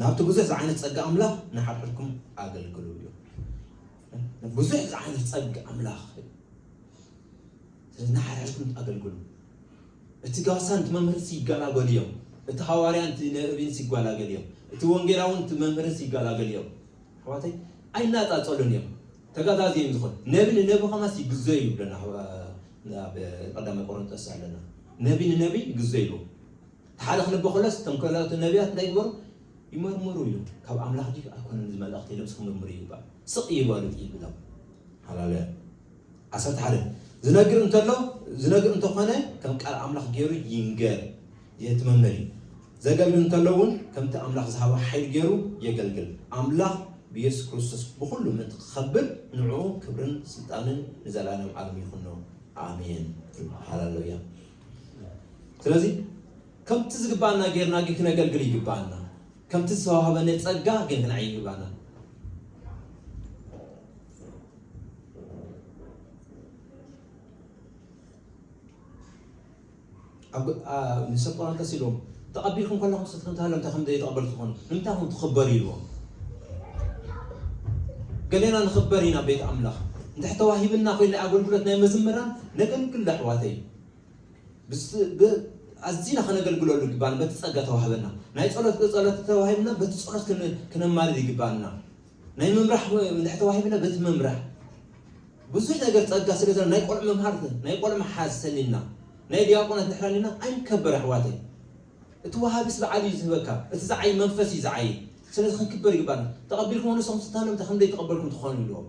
ናብቲ ብዙሕ ዝዓይነት ጸጋ ኣምላኽ ንሓድሕድኩም ኣገልግሉ እዩ። ብዙሕ ዝዓይነት ጸጋ ኣምላኽ እዩ። ስለዚ ንሓድሕድኩም ኣገልግሉ። እቲ ጋሳን እቲ መምህርስ ይገላገሉ እዮም። እቲ ሃዋርያን እቲ ነቢይንስ ይጓላገሉ እዮም። እቲ ወንጌላውን እቲ መምህርስ ይገላገሉ እዮም። ኣሕዋተይ ኣይናጻጸሉን እዮም። ተጋዛዚ እዮም ዝኾኑ ነቢ ንነቢ ከማስ ይግዘዩ ይብለና ኣብ ቀዳማይ ቆሮንጦስ ኣለና ነቢ ንነቢ ይግዘዩ እቲ ሓደ ክንብ ከሎስ እቶም ካልኦት ነብያት እንታይ ግበሩ ይመርምሩ ኢሉ ካብ ኣምላኽ ድዩ ኣይኮነን እዚ መልእኽቲ ኢሎም እስኪ ምርምሩ ይባል ስቅ ይበሉ ይብሎም ሃላሉያ ዓሰርተ ሓደ ዝነግር እንተሎ ዝነግር እንተኾነ ከም ቃል ኣምላኽ ገይሩ ይንገር የትመመር እዩ ዘገልግል እንተሎ እውን ከምቲ ኣምላኽ ዝሃበ ሓይል ገይሩ የገልግል ኣምላኽ ብየሱስ ክርስቶስ ብኩሉ ምእንቲ ክኸብር ንዕኡ ክብርን ስልጣንን ንዘለኣለም ዓለም ይኹኖ ኣሜን ሃላሉያ ስለዚ ከምቲ ዝግባኣና ጌርና ግን ክነገልግል ይግባኣና ከምቲ ዝተዋህበነ ፀጋ ግን ክንዓይ ይግባና ኣብ ንሰብ ቆሮንቶስ ኢሎም ተቐቢልኩም ከለኹም ስፍሪ እንተሃልዮም እንታይ ከምዘይ ተቐበልቲ ትኾኑ ንምንታይ ኹም ትኽበሩ ኢልዎም ገሌና ንኽበር ኢና ቤት ኣምላኽ እንድሕር ተዋሂብና ኮይኑ ናይ ኣገልግሎት ናይ መዝምራን ነገልግሎ ኣሕዋተይ ኣዝና ከነገልግለሉ ይግባና በቲ ጸጋ ተዋህበና ናይ ጸሎት ጸሎት ተዋሂብና በቲ ጸሎት ክነማልድ ይግባና ናይ ምምራሕ ምልሕ ተዋሂብና በቲ ምምራሕ ብዙሕ ነገር ጸጋ ስለ ዘለ ናይ ቆልዑ መምሃር ናይ ቆልዑ መሓዝ ሰኒና ናይ ዲያቆናት ድሕር ኣሊና ኣይንከበር ኣሕዋተይ እቲ ወሃቢስ በዓል እዩ ዝህበካ እቲ ዝዓይ መንፈስ እዩ ዝዓይ ስለዚ ክንክበር ይግባና ተቐቢልኩም ንሶም ስታለምታ ከም ዘይተቐበልኩም ትኾኑ ኢሎም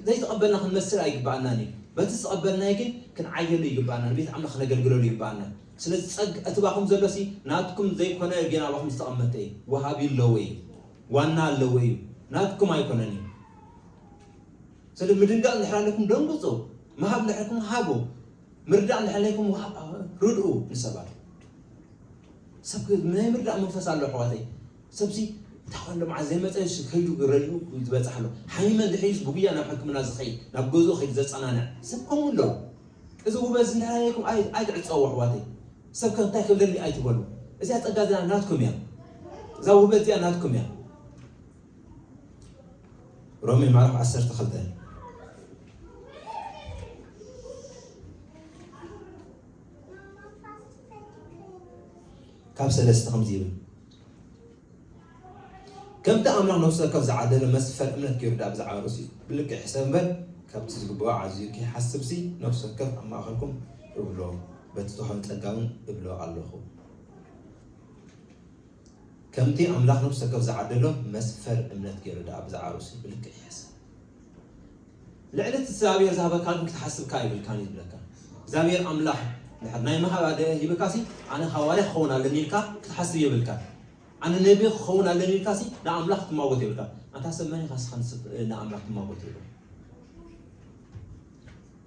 ዘይተቐበልና ክንመስል ኣይግባኣናን እዩ በቲ ዝተቐበልናይ ግን ክንዓየሉ ይግባኣና ንቤት ኣምላኽ ክነገልግለሉ ይግባኣና ስለዚ ጸግ እቲ ባኹም ዘሎሲ ናትኩም ዘይኮነ ግን ኣባኹም ዝተቐመጠ እዩ ወሃቢ ኣለዎ እዩ ዋና ኣለዎ እዩ ናትኩም ኣይኮነን እዩ ስለ ምድንጋፅ እንድሕር ኣለኩም ደንጉፁ ምሃብ እንድሕርኩም ሃቡ ምርዳእ እንድሕር ኣለኩም ርድኡ ንሰባት ሰብ ናይ ምርዳእ መንፈስ ኣሎ ኣሕዋተይ ሰብዚ እንታይ ኮሎ መዓዝ ዘይመፀ ከይዱ ረድኡ ዝበፅሕ ኣሎ ሓሚመ እንድሕር ዩስ ብጉያ ናብ ሕክምና ዝኸይድ ናብ ገዝኡ ከይዱ ዘፀናንዕ ሰብ ከምኡ ኣሎ እዚ ውበዝ እንድሕር ኣለኩም ኣይትዕፀዎ ኣሕዋተይ ሰብ ከ እንታይ ክብለኒ ኣይትበሉ እዚኣ ጸጋ እዚኣ ናትኩም እያ እዛ ውህበት እዚኣ ናትኩም እያ ሮሜ ምዕራፍ ዓሰርተ ክልተ ካብ ሰለስተ ከምዚ ይብል ከምቲ ኣምላኽ ነፍሲ ወከፍ ዝዓደሎ መስፈር እምነት ገይሩ ድኣ ብዛዕባ ርእሱ ብልክዕ ይሕሰብ እምበር፣ ከምቲ ዝግብኦ ዓዚዙ ከይሓስብሲ ነፍሲ ወከፍ ኣብ ማእከልኩም እብሎ፣ በቲ ዝተዋህበኒ ጸጋውን እብሎ ኣሎኹ። ከምቲ ኣምላኽ ነፍሲ ወከፍ ዝዓደሎ መስፈር እምነት ገይሩ ድኣ ብዛዕባ ርእሱ ብልክዕ ይሕሰብ። ልዕሊ እቲ እግዚኣብሔር ዝሃበካ ግን ክትሓስብካ የብልካን እዩ ዝብለካ እግዚኣብሔር ኣምላኽ ድሕር ናይ ምሃብ ኣደ ሂብካ ሲ ኣነ ሃዋርያ ክኸውን ኣለኒ ኢልካ ክትሓስብ የብልካ ኣነ ነቢ ክኸውን ኣለኒ ኢልካ ሲ ንኣምላኽ ክትማጎት የብልካ ኣንታ ሰብ መን ኢኻ ስኻ ንኣምላኽ ትማጎት ይብል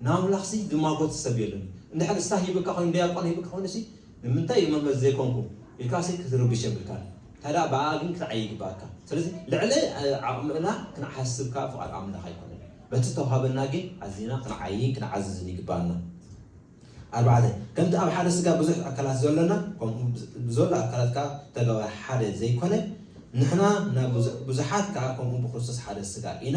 ንኣምላኽሲ ዝማጎት ሰብ የሎን እዩ። እንድሕር ንስሓ ሂብካ ኮይኑ ድያቆን ሂብካ ኮይኑሲ ንምንታይ እየ መምህር ዘይኮንኩ ኢልካሲ ክትርብሽ የብልካን። እንተድኣ ብኣኣ ግን ክትዓዪ ይግብኣካ። ስለዚ ልዕሊ ዓቕምና ክንሓስብ ከኣ ፍቓድ ኣምላኽ ኣይኮነን። በቲ ዝተውሃበና ግን ኣዚና ክንዓይይን ክንዓዝዝን ይግብኣና። ኣርባዕተ፣ ከምቲ ኣብ ሓደ ስጋ ብዙሕ ኣካላት ዘሎና ከምኡ ብዘሎ ኣካላት ከኣ ተጋባይ ሓደ ዘይኮነ፣ ንሕና ናብ ብዙሓት ከኣ ከምኡ ብክርስቶስ ሓደ ስጋ ኢና።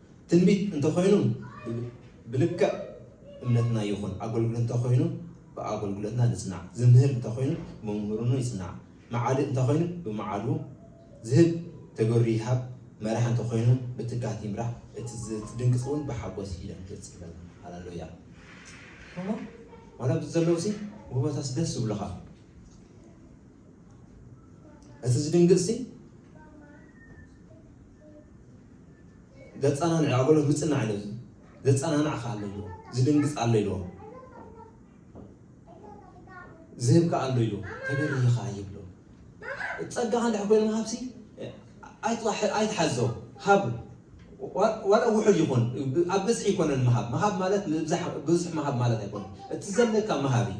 ትንቢት እንተኾይኑ ብልክዕ እምነትና ይኹን፣ ኣገልግሎት እንተኾይኑ ብኣገልግሎትና ንጽናዕ፣ ዝምህር እንተኾይኑ ብመምህርኑ ይጽናዕ፣ መዓልእ እንተኾይኑ ብመዓልኡ፣ ዝህብ ተገሩ ይሃብ፣ መራሒ እንተኾይኑ ብትግሃት ይምራሕ፣ እቲ ዝድንግጽ እውን ብሓጎስ ይደንግጽ ይብል። ሃለሉያ እሞ ዋላ ኣብዚ ዘለውሲ ውህበታስ ደስ ዝብሉኻ እቲ ዝድንግጽሲ ዘጸናንዕ ኣበሎ ምጽናዕ ኢሉ ዘጸናንዕ ከኣ ኣሎ ኢልዎ ዝድንግጽ ኣሎ ኢልዎ ዝህብ ከኣ ኣሎ ኢሉ ተገርየ ከኣ ይብሎ ጸጋኻ እንድሕ ኮይኑ ሃብሲ ኣይትሓዞ ሃብ ዋላ ውሑድ ይኹን ኣብ ብዝሒ ይኮነን ምሃብ ምሃብ ማለት ብዙሕ ምሃብ ማለት ኣይኮነን እቲ ዘለካ ምሃብ እዩ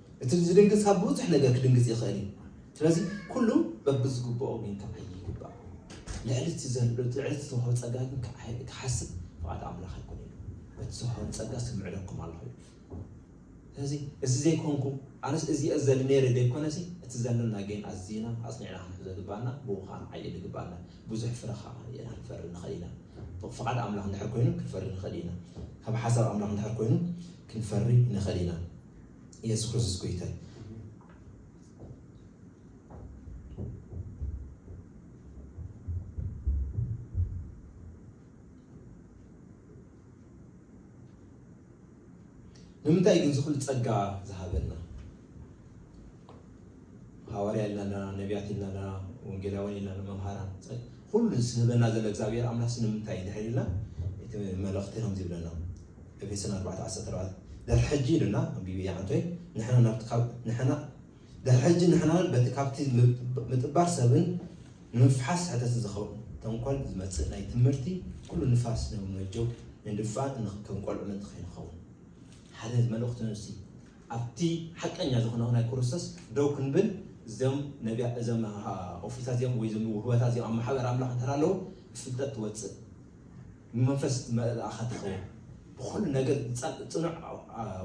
እቲ ዝድንግጽ ካብ ብዙሕ ነገር ክድንግጽ ይኽእል እዩ። ስለዚ ኩሉ በብዝግብኦ ኪንከዓይ ይግባእ። ልዕሊ እቲ ዘሎ ልዕሊ እቲ ዝተዋህበ ጸጋ ግን ክሓስብ ፍቓድ ኣምላኽ ኣይኮነን ኢሉ። በቲ ዝተዋህበኒ ጸጋ ስምዕለኩም ኣለኹ ኢሉ። ስለዚ እዚ ዘይኮንኩ ኣነስ እዚ እየ ዘሊ ነይረ ዘይኮነሲ እቲ ዘለና ግን ኣዚና ኣጽኒዕና ክንሕዞ ዝግባኣና ብኡ ከኣ ንዓይል ይግባኣና ብዙሕ ፍረ ከኣ ርኢና ክንፈሪ ንኽእል ኢና። ፍቓድ ኣምላኽ እንድሕር ኮይኑ ክንፈሪ ንኽእል ኢና። ካብ ሓሳብ ኣምላኽ እንድሕር ኮይኑ ክንፈሪ ንኽእል ኢና። የሱስ ክርስቶስ ጎይታ እዩ። ንምንታይ ግን ዝኹሉ ጸጋ ዝሃበና ሃዋርያ ኢልና ኣለና፣ ነብያት ኢልና ኣለና፣ ወንጌላውያን ኢልና ኣለና፣ መምሃራን ጸ- ኩሉ ዝህበና ዘሎ እግዚኣብሔር ኣምላኽ ንምንታይ እዩ ድሕሪ ኢልና እቲ መልእኽቲ ከምዚ ይብለና ኤፌሶን 4:14 ድሕሪ ሕጂ ኢሉና ኣንቢቢ ይዓንቶይ ንሕና ናብቲ ካብ ንሕና ድሕሪ ሕጂ ንሕናን በቲ ካብቲ ምጥ- ምጥባር ሰብን ንምፍሓስ ሕተትን ዝኸውን ተንኮል ዝመጽእ ናይ ትምህርቲ ኩሉ ንፋስ ንምመጀው ንድፋን እንኽ- ከም ቆልዑ ምንት ከይንኸውን ሓደ መልእኽቱ ንሱ እዩ። ኣብቲ ሓቀኛ ዝክነኦ ናይ ኩሩስቶስ ደው ክንብል እዞም ነብያ እዞም ኦፍሪታት እዚኦም ወይ እዞም ውህበታት እዚኦም ኣብ ማሕበር ኣምላኽ እንተ ኣለዉ ብፍልጠት ትወጽእ ብመንፈስ ትመልኣኻ ትኸውን ብኹሉ ነገር ጸ ጽኑዕ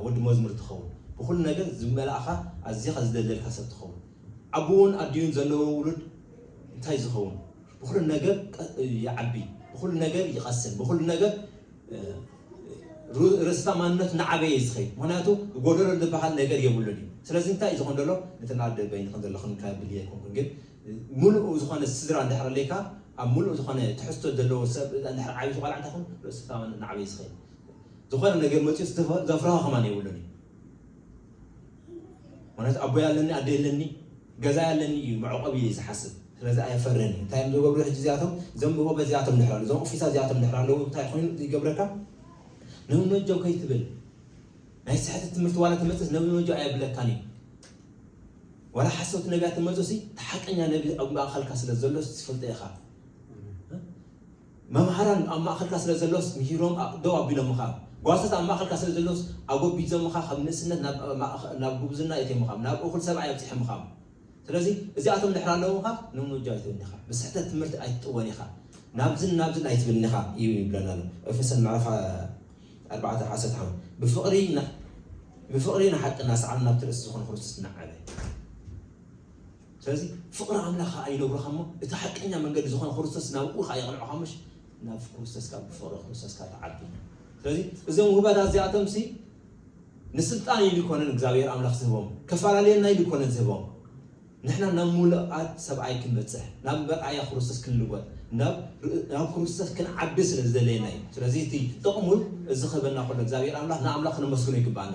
ወዲ መዝሙር ትኸውን ብኹሉ ነገር ዝመልኣኻ ኣዚኻ ዝደልደልካ ሰብ ትኸውን ኣቡኡን ኣዲኡን ዘለዎ ውሉድ እንታይ ዝኸውን ብኹሉ ነገር ይዓቢ ብኹሉ ነገር ይቐስን ብኹሉ ነገር ርእስታ ማንነት እናዓበየ እዩ ዝኸይድ ምክንያቱ ጎደሎ ዝበሃል ነገር የብሉን እዩ ስለዚ እንታይ እዩ ዝኾን ዘሎ እቲ ናደ በይኒ ከም ዘለኹ ንካብል ኣይኮንኩን ግን ሙሉእ ዝኾነ ስድራ እንድሕር ኣለካ ኣብ ሙሉእ ዝኾነ ትሕዝቶ ዘለዎ ሰብ እንድሕር ዓብዪ ቆልዓ እንታይ ኹን ርእስታ ማንነት እናዓበየ ዝኸይድ ዝኾነ ነገር መፅኡ ዘፍርሃ ከማን የብሉን እዩ ምክንያቱ ኣቦይ ኣለኒ ኣደ የለኒ ገዛይ ኣለኒ እዩ መዕቆቢ እዩ ዝሓስብ ስለዚ ኣይፈርን እዩ እንታይ እዮም ዝገብሩ ሕጂ እዚኣቶም እዞም ጎበዝ እዚኣቶም ድሕሪ ኣለዉ እዞም ኦፊሳት እዚኣቶም ድሕሪ ኣለዉ እንታይ ኮይኑ ይገብረካ ነቢ መጆ ከይትብል ናይ ስሕት ትምህርቲ ዋላ ትመጽስ ነቢ መጆ ኣየብለካን እዩ ዋላ ሓሰውቲ ነቢያት ትመጹ ሲ ተሓቀኛ ነቢ ኣብ ማእኸልካ ስለ ዘሎ ትፈልጦ ኢኻ መምሃራን ኣብ ማእከልካ ስለ ዘሎስ ምሂሮም ደው ኣቢሎምኻ፣ ጓሶት ኣብ ማእከልካ ስለ ዘሎስ ኣጎቢዞምኻ ካብ ንእስነት ናብ ናብ ጉብዝና የቴምኻ፣ ናብ እኹል ሰብኣይ ኣብጺሖምኻ። ስለዚ እዚኣቶም ድሕሪ ኣለዉኻ ንሙጃ ኣይትብልን ኢኻ፣ ብስሕተት ትምህርቲ ኣይትጥወን ኢኻ፣ ናብዝን ናብዝን ኣይትብልን ኢኻ እዩ ይብለና ኣሎ። ኤፌሶን ምዕራፍ ኣርባዕተ ዓሰርተ ሓሙሽተ ብፍቕሪ ብፍቕሪ ንሓቂ እናሰዓብና ናብቲ ርእሲ ዝኾነ ክርስቶስ እናዓበ። ስለዚ ፍቕሪ ኣምላኽ ኸኣ ይነግሩኻ እሞ፣ እቲ ሓቀኛ መንገዲ ዝኾነ ክርስቶስ ናብኡ ኸኣ የቕንዑኻ እሞ፣ ናብ ክርስቶስ ካብ ብፍቕሪ ክርስቶስ ካብ ትዓቢ። ስለዚ እዞም ውህበታት እዚኣቶምሲ ንስልጣን ኢሉ ኣይኮነን እግዚኣብሔር ኣምላኽ ዝህቦም፣ ከፈላለየና ኢሉ ኣይኮነን ዝህቦም። ንሕና ናብ ምሉኣት ሰብኣይ ክንበጽሕ፣ ናብ መርኣያ ክርስቶስ ክንልወጥ፣ ናብ ናብ ክርስቶስ ክንዓቢ ስለ ዝደለየና እዩ። ስለዚ እቲ ጥቕሙ እዚ ክህበና ከሎ እግዚኣብሔር ኣምላኽ ንኣምላኽ ክነመስግኖ ይግብኣና።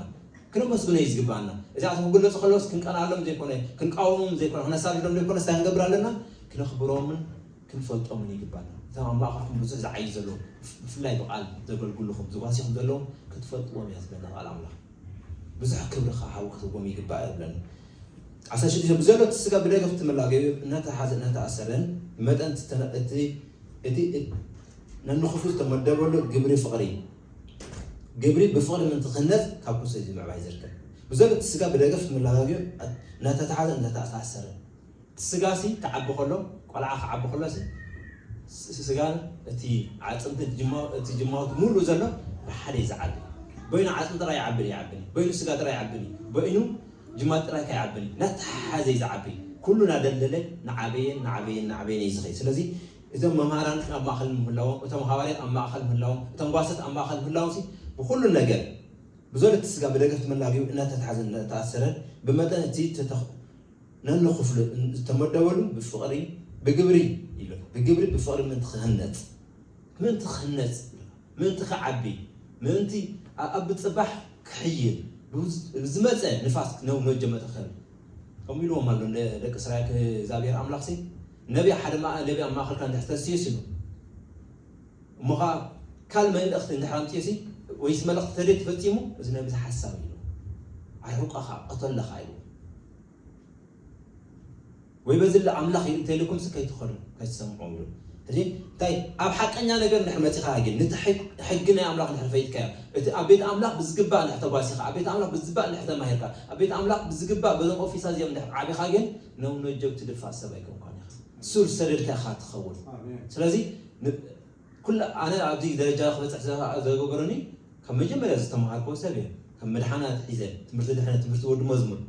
ክነመስግኖ እዩ ዝግብኣና። እዚኣቶ ክግለጹ ከለውስ ክንቀንኣሎም ዘይኮነ፣ ክንቃወሞም ዘይኮነ፣ ክነሳድዶም ዘይኮነስ ታይ ክንገብር ኣለና? ክነኽብሮምን ክንፈልጦምን ይግብኣና። እቶም ኣብ ማእከልኩም ብዙሕ ዝዓዩ ዘለዉ ብፍላይ ብቃል ዘገልግሉኹም ዝጓሲኹም ዘለዉ ክትፈልጥዎም እያ ትብለና ቃል ኣምላኽ። ብዙሕ ክብሪ ከኣ ሓዊ ክትህብዎም ይግባእ ይብለና። ዓሰርተ ሽዱሽተ ብዘሎ እቲ ስጋ ብደገ ክትመላገዩ እናተታሓዘ እናተኣሰረን ብመጠን እቲ እቲ ነንክፉት ዝተመደበሉ ግብሪ ፍቕሪ ግብሪ ብፍቕሪ ምእንቲ ክህነጽ ካብ ኩርሲ እዚ ምዕባይ ዝርከብ ብዘሎ እቲ ስጋ ብደገፍ ትምላጋግዮ እናተታሓዘ እናተኣሳሰረ እቲ ስጋሲ ክዓቢ ከሎ ቆልዓ ክዓቢ ከሎሲ እቲ ስጋን እቲ ዓጽምትን እቲ ጅማውቲ ሙሉእ ዘሎ ብሓደ እዩ ዝዓቢ በይኑ ዓጽሚ ጥራይ ይዓብን ይዓብን በይኑ ስጋ ጥራይ ይዓብን በይኑ ጅማት ጥራይ ከይዓብን እናተሓሓዘ እዩ ዝዓቢ ኩሉ ናደልደለ ናዓበየን ናዓበየን ናዓበየን እዩ ዝኸይድ ስለዚ እዞም መማህራን ግን ኣብ ማእኸል ምህላዎም፣ እቶም ሃዋርያት ኣብ ማእኸል ምህላዎም፣ እቶም ጓሶት ኣብ ማእኸል ምህላዎምሲ ብኹሉ ነገር ብዞል እቲ ስጋ ብደገፍቲ መላግዩ እናተታሕዘን እናተኣሰረን ብመጠን እቲ ነኑ ክፍሉ ዝተመደበሉ ብፍቕሪ ብግብሪ ይብል ብግብሪ ብፍቕሪ ምእንቲ ክህነፅ ምእንቲ ክህነፅ ምእንቲ ክዓቢ ምእንቲ ኣብ ፅባሕ ክሕይል ዝመፀ ንፋስ ነው መጀመጠ ከም ከምኡ ኢልዎም ኣሎ ደቂ እስራኤል እግዚኣብሔር ኣምላኽሲ ነቢ ሓደ መኣ ነቢ ኣብ ማእኸልካ እንድሕር ተሲኡሲ እሞ ከኣ ካልእ መልእኽቲ እንድሕር ኣምጺኡሲ ወይስ መልእኽቲ ተደይ ተፈጺሙ እዚ ነቢ እዚ ሓሳዊ እዩ ኣይሑቀኻ ቀተለኻ እዩ ወይ በዚ ለ ኣምላኽ እዩ እንተኢልኩምሲ ከይትኸዱ ከይትሰምዑ ይብሉ ሕጂ እንታይ ኣብ ሓቀኛ ነገር እንድሕር መጺኻ ግን ነቲ ሕጊ ናይ ኣምላኽ እንድሕር ፈይጥካዮ እቲ ኣብ ቤት ኣምላኽ ብዝግባእ እንድሕር ተጓሲኻ ኣብ ቤት ኣምላኽ ብዝግባእ እንድሕር ተማሂርካ ኣብ ቤት ኣምላኽ ብዝግባእ በዞም ኦፊሳ እዚኦም እንድሕር ዓቢኻ ግን ኖው ነጆ ትድፋእ ሰብ ኣይኮንካን ኢኻ ሱር ሰደድካ ኢኻ ትኸውን ስለዚ ኩላ ኣነ ኣብዚ ደረጃ ክበፅሕ ዘገበረኒ ካብ መጀመርያ ዝተምሃርኮ ሰብ እየ ከም መድሓናት ሒዘ ትምህርቲ ድሕነት ትምህርቲ ወዲ መዝሙር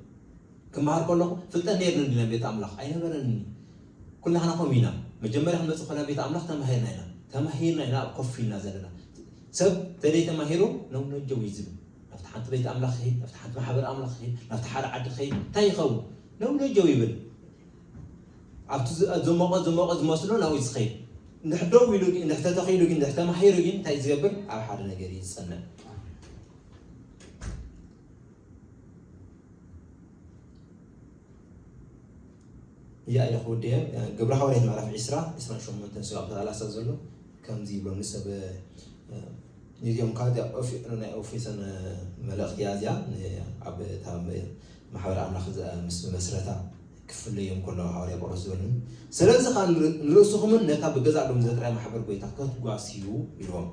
ክምሃር ከለኹ ፍልጠት ነይርኒ እንዲ ቤት ኣምላኽ ኣይነበረኒ ኩላህና ከምኡ ኢና መጀመርያ ክንመፅእ ከለና ቤት ኣምላኽ ተማሂርና ኢና ተማሂርና ኢና ኣብ ኮፍ ኢልና ዘለና ሰብ ተደይ ተማሂሩ ለው ነጀው እዩ ዝብል ናብቲ ሓንቲ ቤት ኣምላኽ ይኸይድ ናብቲ ሓንቲ ማሕበር ኣምላኽ ይኸይድ ናብቲ ሓደ ዓዲ ይኸይድ እንታይ ይኸውን ነውነጀው ይብል ኣብቲ ዝሞቐ ዝሞቐ ዝመስሎ ናብኡ ዝኸይድ እንድሕር ደው ኢሉ እንድሕር ተተኺሉ ግን እንድሕር ተማሂሩ ግን እንታይ ዝገብር ኣብ ሓደ ነገር እዩ ዝፀንዕ እዚኣ ኢለ ክውድየ ግብረ ሃዋርያት ምዕራፍ 20 28 ስጋብ ተቃላሳ ዘሎ ከምዚ ይብሎ ንሰብ ንዚኦም ካብ ናይ ኦፊሰን መልእኽቲ እያ እዚኣ ኣብ ማሕበር ኣምላኽ ምስ መመስረታ ክፍለዮም ከለዉ ሃዋርያ ጳውሎስ ዝበሉን ስለዚ ኸኣ ንርእስኹምን ነታ ብገዛእ ደሙ ዘጥርያ ማሕበር ጐይታ ከትጓስዩ ኢልዎም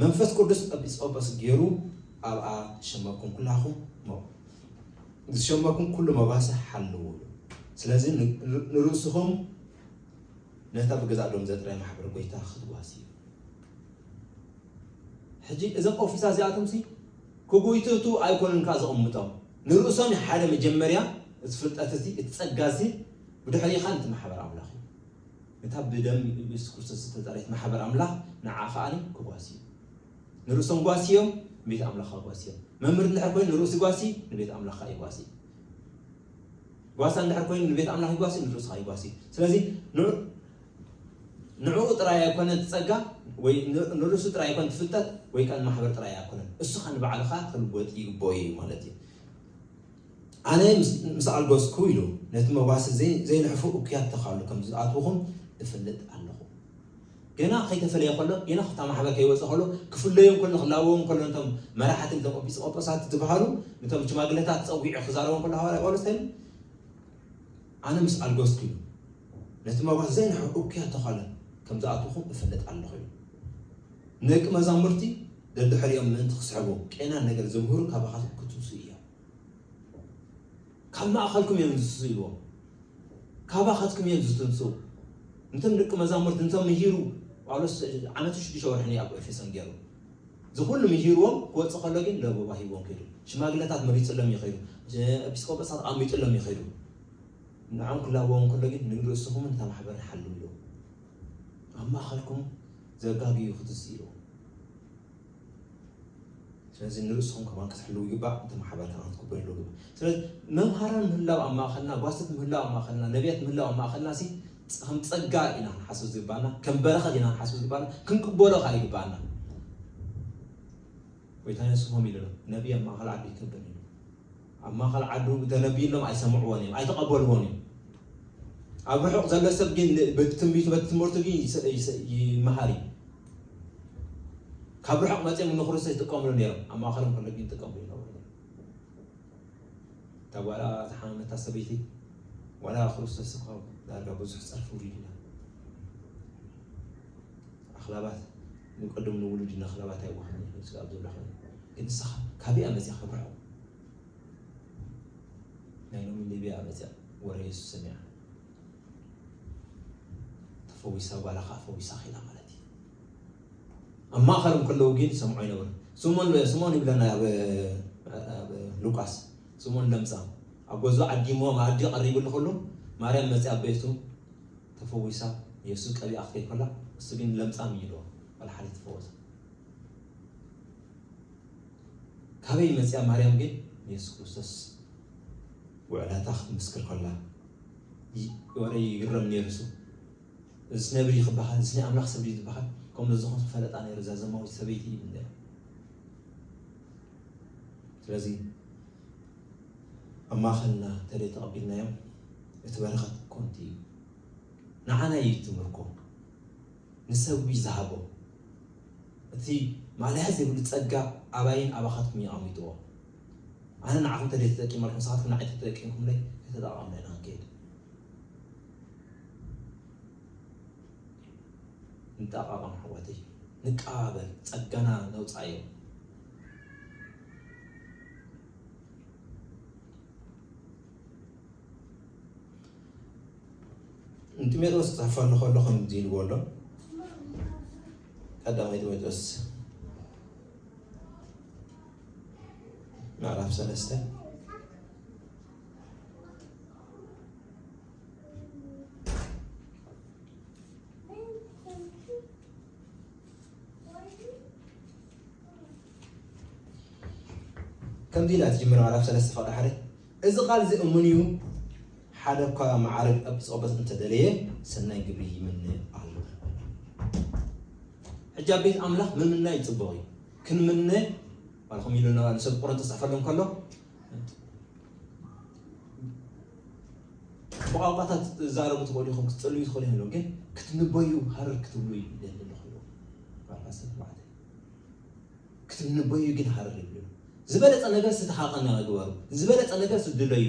መንፈስ ቅዱስ ኤጲስቆጶስ ገይሩ ኣብኣ ዝሸመኩም ኩላኹም ዝሸመኩም ኩሉ መባሰ ሓልዉ ስለዚ ንርእስኹም ነታ ብገዛእ ደሙ ዘጥርያ ማሕበር ጐይታ ክትጓስዩ ሕጂ እዞም ኦፊሳ እዚኣቶምሲ ክጉይትቱ ኣይኮኑን ከኣ ዘቕምጦም። ንርእሶም እዩ ሓደ መጀመርያ እቲ ፍልጠት እዚ እቲ ጸጋ እዚ ብድሕሪኡ ከኣ ነቲ ማሕበር ኣምላኽ እዩ። ነታ ብደም ኢየሱስ ክርስቶስ ዝተጸረየት ማሕበር ኣምላኽ ንዓኣ ከኣ ክጓስዩ። ንርእሶም ጓስዮም ንቤት ኣምላኽ ኣጓስዮም። መምህር እንድሕር ኮይኑ ንርእሱ ይጓሲ ንቤት ኣምላኽ ከኣ ይጓሲ። ጓሳ እንድሕር ኮይኑ ንቤት ኣምላኽ ይጓሲ ንርእሱ ከኣ ይጓሲ። ስለዚ ንዕኡ ጥራይ ኣይኮነን እቲ ጸጋ ወይ ንርእሱ ጥራይ ኣይኮነን እቲ ፍልጠት ወይ ከኣ ንማሕበር ጥራይ ኣይኮነን እስኻ ንባዕልኻ ክልወጥ ይግብኦ እዩ ማለት እዩ ኣነ ምስ ኣልጎስኩ ኢሉ ነቲ መጓሲ ዘይንሕፉ እኩያት ተኻሉ ከም ዝኣትውኹም እፈልጥ ኣለኹ ገና ከይተፈለየ ከሎ ገና ክታ ማሕበር ከይወፀ ከሎ ክፍለዮም ከሎ ክላበዎም ከሎ ነቶም መራሕቲ ነቶም ጲስቆጶሳት ዝበሃሉ ነቶም ሽማግለታት ፀዊዑ ክዛረቦም ከሎ ሃዋርያ ጳውሎስ እንታይ ኣነ ምስ ኣልጎስኪ ኢሉ ነቲ መብራት ዘይንሕር እኩያት ተዃለ ከም ዝኣትዉኹም እፈልጥ ኣለኹ ኢሉ። ንደቂ መዛሙርቲ ደድሕሪኦም ምእንቲ ክስሕቡ ቄናን ነገር ዝምህሩ ካባኻትኩም ክትብሱ እዮም። ካብ ማእኸልኩም እዮም ዝትስኡ ኢልዎም። ካባኻትኩም እዮም ዝትንስኡ። ንቶም ደቂ መዛሙርቲ እንተምሂሩ ጳውሎስ ዓመትን ሽዱሽተ ወርሕን እዩ ኣብ ኤፌሶን ገይሩ። እዚ ኩሉ ምሂርዎም ክወጽእ ከሎ ግን ለበዋ ሂብዎም ከይዱ። ሽማግለታት መሪጽሎም እዩ ከይዱ። ኤጲስቆጶሳት ኣቐሚጥሎም እዩ ከይዱ። ንዖም ክላበዎም ከሎ ግን ንርእስኹምን እታ ማሕበርን ሓልው ኢሉ ኣብ ማእኸልኩም ዘጋግዩ ክትዝ ኢሉ ስለዚ ንርእስኹም ከማን ክትሕልው ይግባእ እቲ ማሕበር ከማን ክትክብር ይግባእ ስለዚ መምሃራን ምህላው ኣብ ማእኸልና ጓስት ምህላው ኣብ ማእኸልና ነቢያት ምህላው ኣብ ማእኸልና ሲ ከም ጸጋ ኢና ክንሓስብ ዝግባኣና ከም በረኸት ኢና ክንሓስብ ዝግባኣና ክንቅበሎ ከኣ ይግባኣና ጎይታ የሱስ ከምኡ ኢሉ ነቢይ ኣብ ማእኸል ዓዱ ይከብር እዩ ኣብ ማእኸል ዓዱ ተነቢዩሎም ኣይሰምዕዎን እዮም ኣይተቐበልዎን እዮም ኣብ ርሑቕ ዘሎ ሰብ ግን በቲ ትንቢቱ በቲ ትምህርቱ ግን ይመሃር እዩ ካብ ርሑቕ መፅኦም ንክርስቶስ ይጥቀምሉ ነይሮም ኣብ ማእኸሎም ከሎ ግን ይጥቀምሉ ይነበሩ እታ ጓላ ዝሓመመታ ሰበይቲ ዋላ ክርስቶስ እኳ ዳርጋ ብዙሕ ጸርፊ ውሪዱና ኣኽላባት ንቀደም ንውሉድ ኢና ኣኽላባት ኣይዋሃን ይብል ስጋብ ዘሎ ኾነ ግን ንስኻ ካበይ ኣመፅያ ከብርዖ ናይ ሎሚ ሊብያ ኣመፅያ ወረ የሱስ ሰሚዓ ተፈዊሳ ጓላ ከዓ ፈዊሳ ኺላ ማለት እዩ ኣብ ማእከሎም ከለዉ ግን ዝሰምዖ ኣይነበረን። ስምኦን ስምኦን እዩ ብለና ኣብ ሉቃስ ስምኦን ለምጻም ኣብ ገዝኡ ዓዲሞ መኣዲ ቀሪብሉ ከሎ ማርያም መጺኣ ኣብ ቤቱ ተፈዊሳ የሱስ ቀቢኣ ክትከይድ ከላ እሱ ግን ለምጻም እዩ ኢልዎ ወላ ሓደ ተፈወሰ። ካበይ መጺኣ ማርያም ግን ንየሱስ ክርስቶስ ውዕላታ ክትምስክር ከላ ወረ ይግረም ነይሩ እሱ እዝስ ነብሪ እዩ ክበሃል እዝስ ናይ ኣምላኽ ሰብ ድዩ ዝበሃል ከምሎ ዝዀን ክፈለጣ ነይሩ እዛ ዘማዊት ሰበይቲ ይብል ነይሩ ስለዚ ኣብ ማእኸልና እንተደይ ተቐቢልናዮም እቲ በረኸት ኮንቲ እዩ ንዓና እዩ እቲ ምርኮ ንሰብ እዩ ዝሃቦ እቲ ማለያ ዘይብሉ ጸጋ ኣባይን ኣባኻትኩም እዩ ኣቐሚጥዎ ኣነ ንዓኹም ተደይ ተጠቂመልኩም ንሳኻትኩም ንዓይ ተጠቂምኩምለይ ከተጠቓምለና ንከይድ እንጠቃቀም ኣሕዋተይ ንቀባበል ጸጋና ነውጻዮ ንጢሞቴዎስ ክጽሕፈሉ ከሎ ከምዚ ኢልዎ ኣሎ ቀዳማይ ጢሞቴዎስ ምዕራፍ ሰለስተ ከምዚ ኢላ ትጅምር ምዕራፍ ሰለስተ ፍቕዲ ሓደ እዚ ቃል እዚ እሙን እዩ ሓደ እኳ መዓርግ ኤጲስቆጶስ እንተደለየ ሰናይ ግብሪ ይምነ ኣሎ ሕጂ ኣብ ቤት ኣምላኽ ምምናይ ፅቡቕ እዩ ክንምነ ባልኹም ኢሉና ንሰብ ቁረንጦስ ዝፅሕፈሎም ከሎ ብቋንቋታት ትዛረቡ ትኽእሉ ኢኹም ክትፅልዩ ትኽእሉ ይህሉ ግን ክትንበዩ ሃረር ክትብሉ ይደሊ ኣለኹ ክትንበዩ ግን ሃረር ይብሉ ዝበለፀ ነገር ዝተሓቐነ ግበሩ ዝበለፀ ነገር ስድለዩ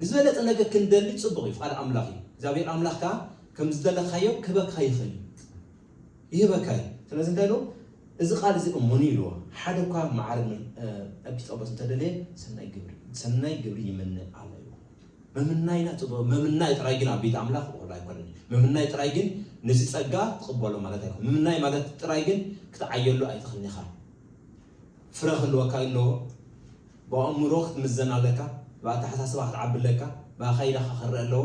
ዝበለፀ ነገር ክንደሊ ፅቡቕ እዩ ቃል ኣምላኽ እዩ እግዚኣብሔር ኣምላኽ ከዓ ከም ዝደለኻዮ ክበካ ይኽእል እዩ ይህበካ እዩ። ስለዚ እንታይ ኢሉ እዚ ቃል እዚ እሙን እዩ ኢልዎ። ሓደ እኳ መዓርግ ኤጲስቆጶስ እንተደለየ ሰናይ ግብሪ ሰናይ ግብሪ ይምነ ኣሎ ኢልዎ። ምምናይና ጽቡቕ ምምናይ ጥራይ ግን ኣብ ቤት ኣምላኽ ወላ ኣይኮነን። ምምናይ ጥራይ ግን ነዚ ጸጋ ትቕበሎ ማለት ኣይኮነን። ምምናይ ማለት ጥራይ ግን ክትዓየሉ ኣይትኽእልን ኢኻ። ፍረ ክህልወካ ይለዎ። ብኣእምሮ ክትምዘን ኣለካ፣ ብኣተሓሳስባ ክትዓቢ ኣለካ፣ ብኣካይዳካ ክረኣ ኣለዎ።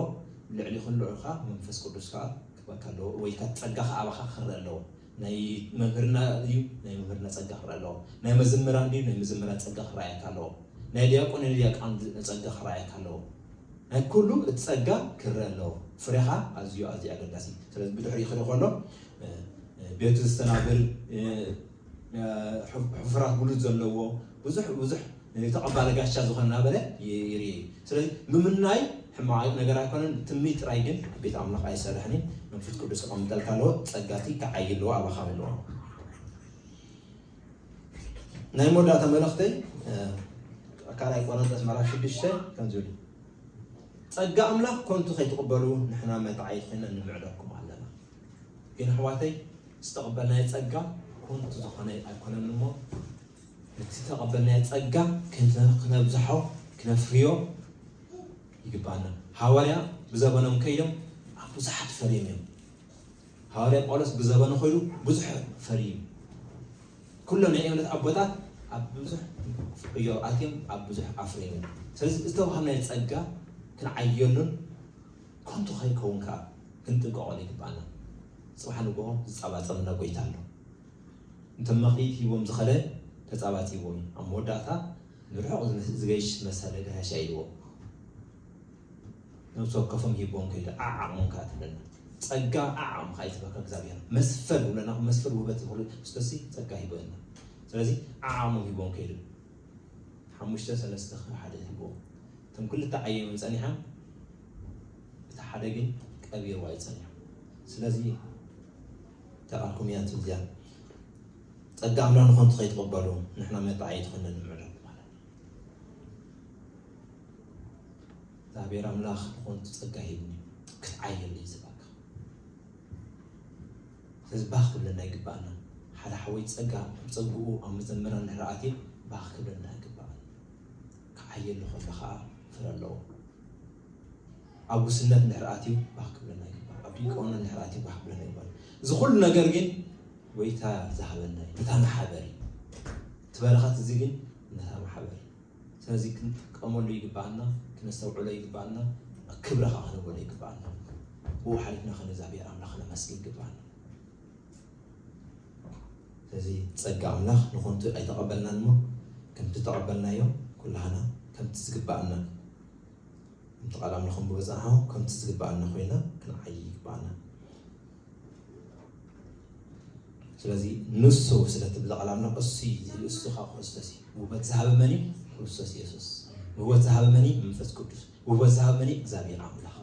ልዕሊ ኩሉ ከኣ መንፈስ ቅዱስ ከኣ ክበካ ኣለዎ ወይ ከኣ ጸጋ ከኣ ኣባካ ክረኣ ኣለዎ። ናይ መምህርና ድዩ ናይ መምህርና ጸጋ ክረኣ ኣለዎ። ናይ መዘምራን ድዩ ናይ መዘምራን ጸጋ ክረኣየካ ኣለዎ። ናይ ድያቆን ናይ ድያቃን ጸጋ ክረኣየካ ኣለዎ። ናይ ኩሉ እቲ ጸጋ ክረኣ ኣለዎ። ፍሬካ ኣዝዩ ኣዝዩ ኣገዳሲ እዩ። ስለዚ ብድሕሪኡ ክርኢ ከሎ ቤቱ ዘስተናብር ሕፉራት ብሉጽ ዘለዎ ብዙሕ ብዙሕ ተቐባሊ ጋሻ ዝኾነ እናበለ ይርኤ እዩ። ስለዚ ምምናይ ሕማቕ ነገር ኣይኮነን፣ ትምኒት ጥራይ ግን ቤት ኣምላኽ ኣይሰርሕን እዩ። መንፈስ ቅዱስ ክቐምጠልካ ኣለዎ፣ ጸጋ እቲ ክዓይ ኣለዎ፣ ኣባኻ ኣለዎ። ናይ መወዳእታ መልእኽተይ ካልኣይ ቆሮንቶስ ምዕራፍ ሽዱሽተ ከምዚ ይብል ጸጋ ኣምላኽ ኮንቱ ከይትቕበሉ ንሕና መታዓይትነ ንምዕደኩም ኣለና ግን ኣሕዋተይ ዝተቐበልናዮ ጸጋ ኮንቱ ዝኾነ ኣይኮነን እሞ ነቲ ዝተቐበልናዮ ጸጋ ክነብዝሖ ክነፍርዮ ይግባና ሃዋርያ ብዘበኖም ከይዶም ኣብ ብዙሓት ፈርዮም እዮም ሃዋርያ ጳውሎስ ብዘበኑ ኮይኑ ብዙሕ ፈርዩ ኩሎም ናይ እምነት ኣቦታት ኣብ ብዙሕ ዕዮ ኣትዮም ኣብ ብዙሕ ኣፍርዮም ስለዚ ዝተዋሃብናዮ ጸጋ ክንዓየሉን ከንቱ ከይከውን ከኣ ክንጥንቀቐሉ ይግብኣና። ጽባሕ ንግሆ ዝጻባጸበና ጎይታ ኣሎ። እንተ መኽሊት ሂቦም ዝኸደ ተጻባጺብዎም እዩ። ኣብ መወዳእታ ንርሑቕ ዝገይሽ መሰለ ጋሻይ ኢልዎም ነብሲ ወከፎም ሂብዎም ከይዱ። ዓዓቕሞም ከኣ ትብለና ጸጋ ዓዓቕምኻ እዩ ዝበካ እግዚኣብሔር መስፈር ይብለና። መስፈር ውህበት ዝኽሉ ክርስቶስ ጸጋ ሂቦ እዩና። ስለዚ ዓዓቕሞም ሂብዎም ከይዱ። ሓሙሽተ ሰለስተ ከም ሓደ ትህቦም እቶም ክልተ ዓየኖም ጸኒሖም እቲ ሓደ ግን ቀቢርዋ እዩ ጸኒሑ ስለዚ ተቃልኩም እያ ትብዚያ ጸጋ ኣምላ ንኾንቱ ከይትቕበሉ ንሕና መጣዓይ ትኾነ ንምዕዶ ማለት እግዚኣብሔር ኣምላኽ ንኾንቱ ጸጋ ሂብኒ ክትዓየሉ እዩ ዝባካ ስለዚ ባህ ክብለና ይግበኣና ሓደ ሓወይ ጸጋ ከም ጸግኡ ኣብ ምዘምራን ድሕሪ ኣትየ ባህ ክብለና ይግበኣና ክዓየሉ ከሎ ከኣ ፍረ ኣለዎ ኣብ ጉስነት ድሕሪ ኣትዩ ባህ ክብለና ይግበኣና ኣብ ዲቆና ድሕሪ ኣትዩ ባህ ክብለና ይግበኣና እዚ ኩሉ ነገር ግን ጎይታ ዝሃበና እዩ ነታ ማሕበር እዩ እቲ በረኸት እዚ ግን ነታ ማሕበር እዩ ስለዚ ክንጥቀመሉ ይግበኣና፣ ክነስተውዕሎ ይግበኣና፣ ክብሪ ከኣ ክንህበሉ ይግበኣና። ብኡ ሓሊፍና ከኣ ንእግዚኣብሄር ኣምላኽ ክነመስግን ይግበኣና። ስለዚ ጸጋ ኣምላኽ ንኾንቱ ኣይተቐበልናን እሞ ከምቲ ዝተቐበልናዮ ኩላህና ከምቲ ዝግበኣና ከምቲ ቃል ኣምላኽ ክንብቦ ዝጸናሕናኹም ከምቲ ዝግበኣና ኮይና ክንዓይይ ይግበኣና። ስለዚ ንሱ ስለ እቲ ብዛዕባ ኣሎ እሱ እሱ ካብ ክርስቶስ እዩ ውበት ዝሃበ መን እዩ ክርስቶስ ኢየሱስ ውበት ዝሃበ መን እዩ መንፈስ ቅዱስ ውበት ዝሃበ መን እዩ እግዚኣብሔር ኣምላኽ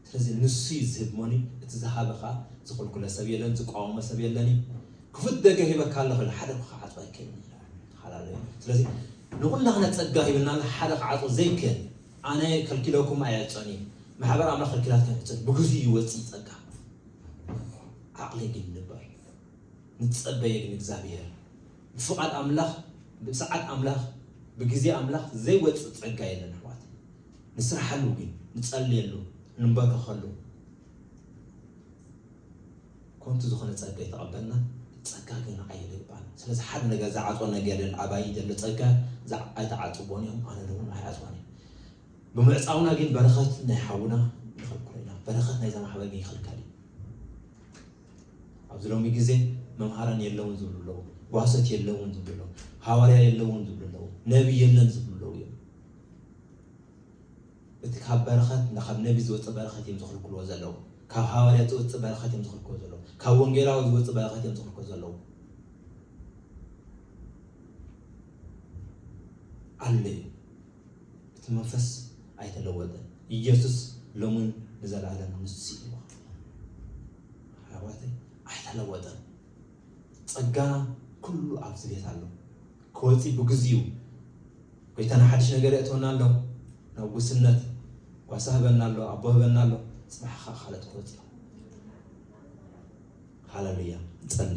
ስለዚ ንሱ እዩ ዝህብ መን እዩ እቲ ዝሃበ ከዓ ዝኽልኩለ ሰብ የለን ዝቋወመ ሰብ የለን እዩ ክፉት ደገ ሂበካ ኣለኹ ኢሉ ሓደ ክዓፆ ኣይክእልን ተሓላለዩ ስለዚ ንኩላህና ፀጋ ሂብና ሓደ ክዓፆ ዘይክእል ኣነ ከልኪለኩም ኣየዕጾን እየ ማሕበር ኣምላኽ ከልኪላት ኣይዕጾን ብግዚኡ ይወጽእ ጸጋ ዓቕሊ ግን ንበር ንጸበየ ግን እግዚኣብሔር ብፍቓድ ኣምላኽ ብሰዓት ኣምላኽ ብግዜ ኣምላኽ ዘይወጽእ ጸጋ የለን ኣሕዋት ንስራሓሉ ግን ንጸልየሉ ንንበርከኸሉ ኮንቱ ዝኮነ ጸጋ ይተቀበልና ጸጋ ግን ንዓይ የደግባን ስለዚ ሓደ ነገር ዝዓጽዎ ነገር የለን ኣባይ ዘሎ ጸጋ ኣይተዓጽዎን እዮም ኣነ ውን ኣይዓጽዎን እየ ብምዕጻውና ግን በረከት ናይ ሓውና ንክልክሎ ኢና በረከት ናይዛ ማሕበር ግን ይክልከል እዩ ኣብዚ ሎሚ ግዜ መምሃራን የለውን ዝብሉ ኣለዉ ጓሶት የለውን ዝብሉ ኣለዉ ሃዋርያ የለውን ዝብሉ ኣለዉ ነቢ የለን ዝብሉ ኣለዉ እዮም እቲ ካብ በረኸት እና ካብ ነቢ ዝወጽእ በረኸት እዮም ዝኽልክልዎ ዘለዉ ካብ ሃዋርያት ዝወጽእ በረኸት እዮም ዝኽልክልዎ ዘለዉ ካብ ወንጌላዊ ዝወጽእ በረኸት እዮም ዝኽልክልዎ ዘለዉ ኣሎ እዩ እቲ መንፈስ ኣይተለወጠን ኢየሱስ ሎምን ንዘለዓለም ንሱ እዩ ኣሕዋተይ ኣይተለወጠን ጸጋ ኩሉ ኣብዚ ቤት ኣሎ ክወጺ ብግዚኡ ጎይታና ሓድሽ ነገር የእትወና ኣሎ ናብ ጉስነት ጓሳ ህበና ኣሎ ኣቦ ህበና ኣሎ ጽባሕ ከኣ ካልኦት ክወጽ እዮም ሃለሉያ ንጸሊ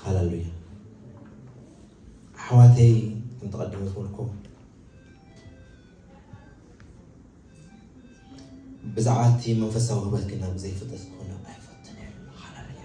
ሃለሉያ ኣሕዋተይ ከም ተቐድመ ዝበልኩም ብዛዕባ እቲ መንፈሳዊ ህበት ግና ብዘይፍጠት ክኾነ ኣይፈትን ሃለሉያ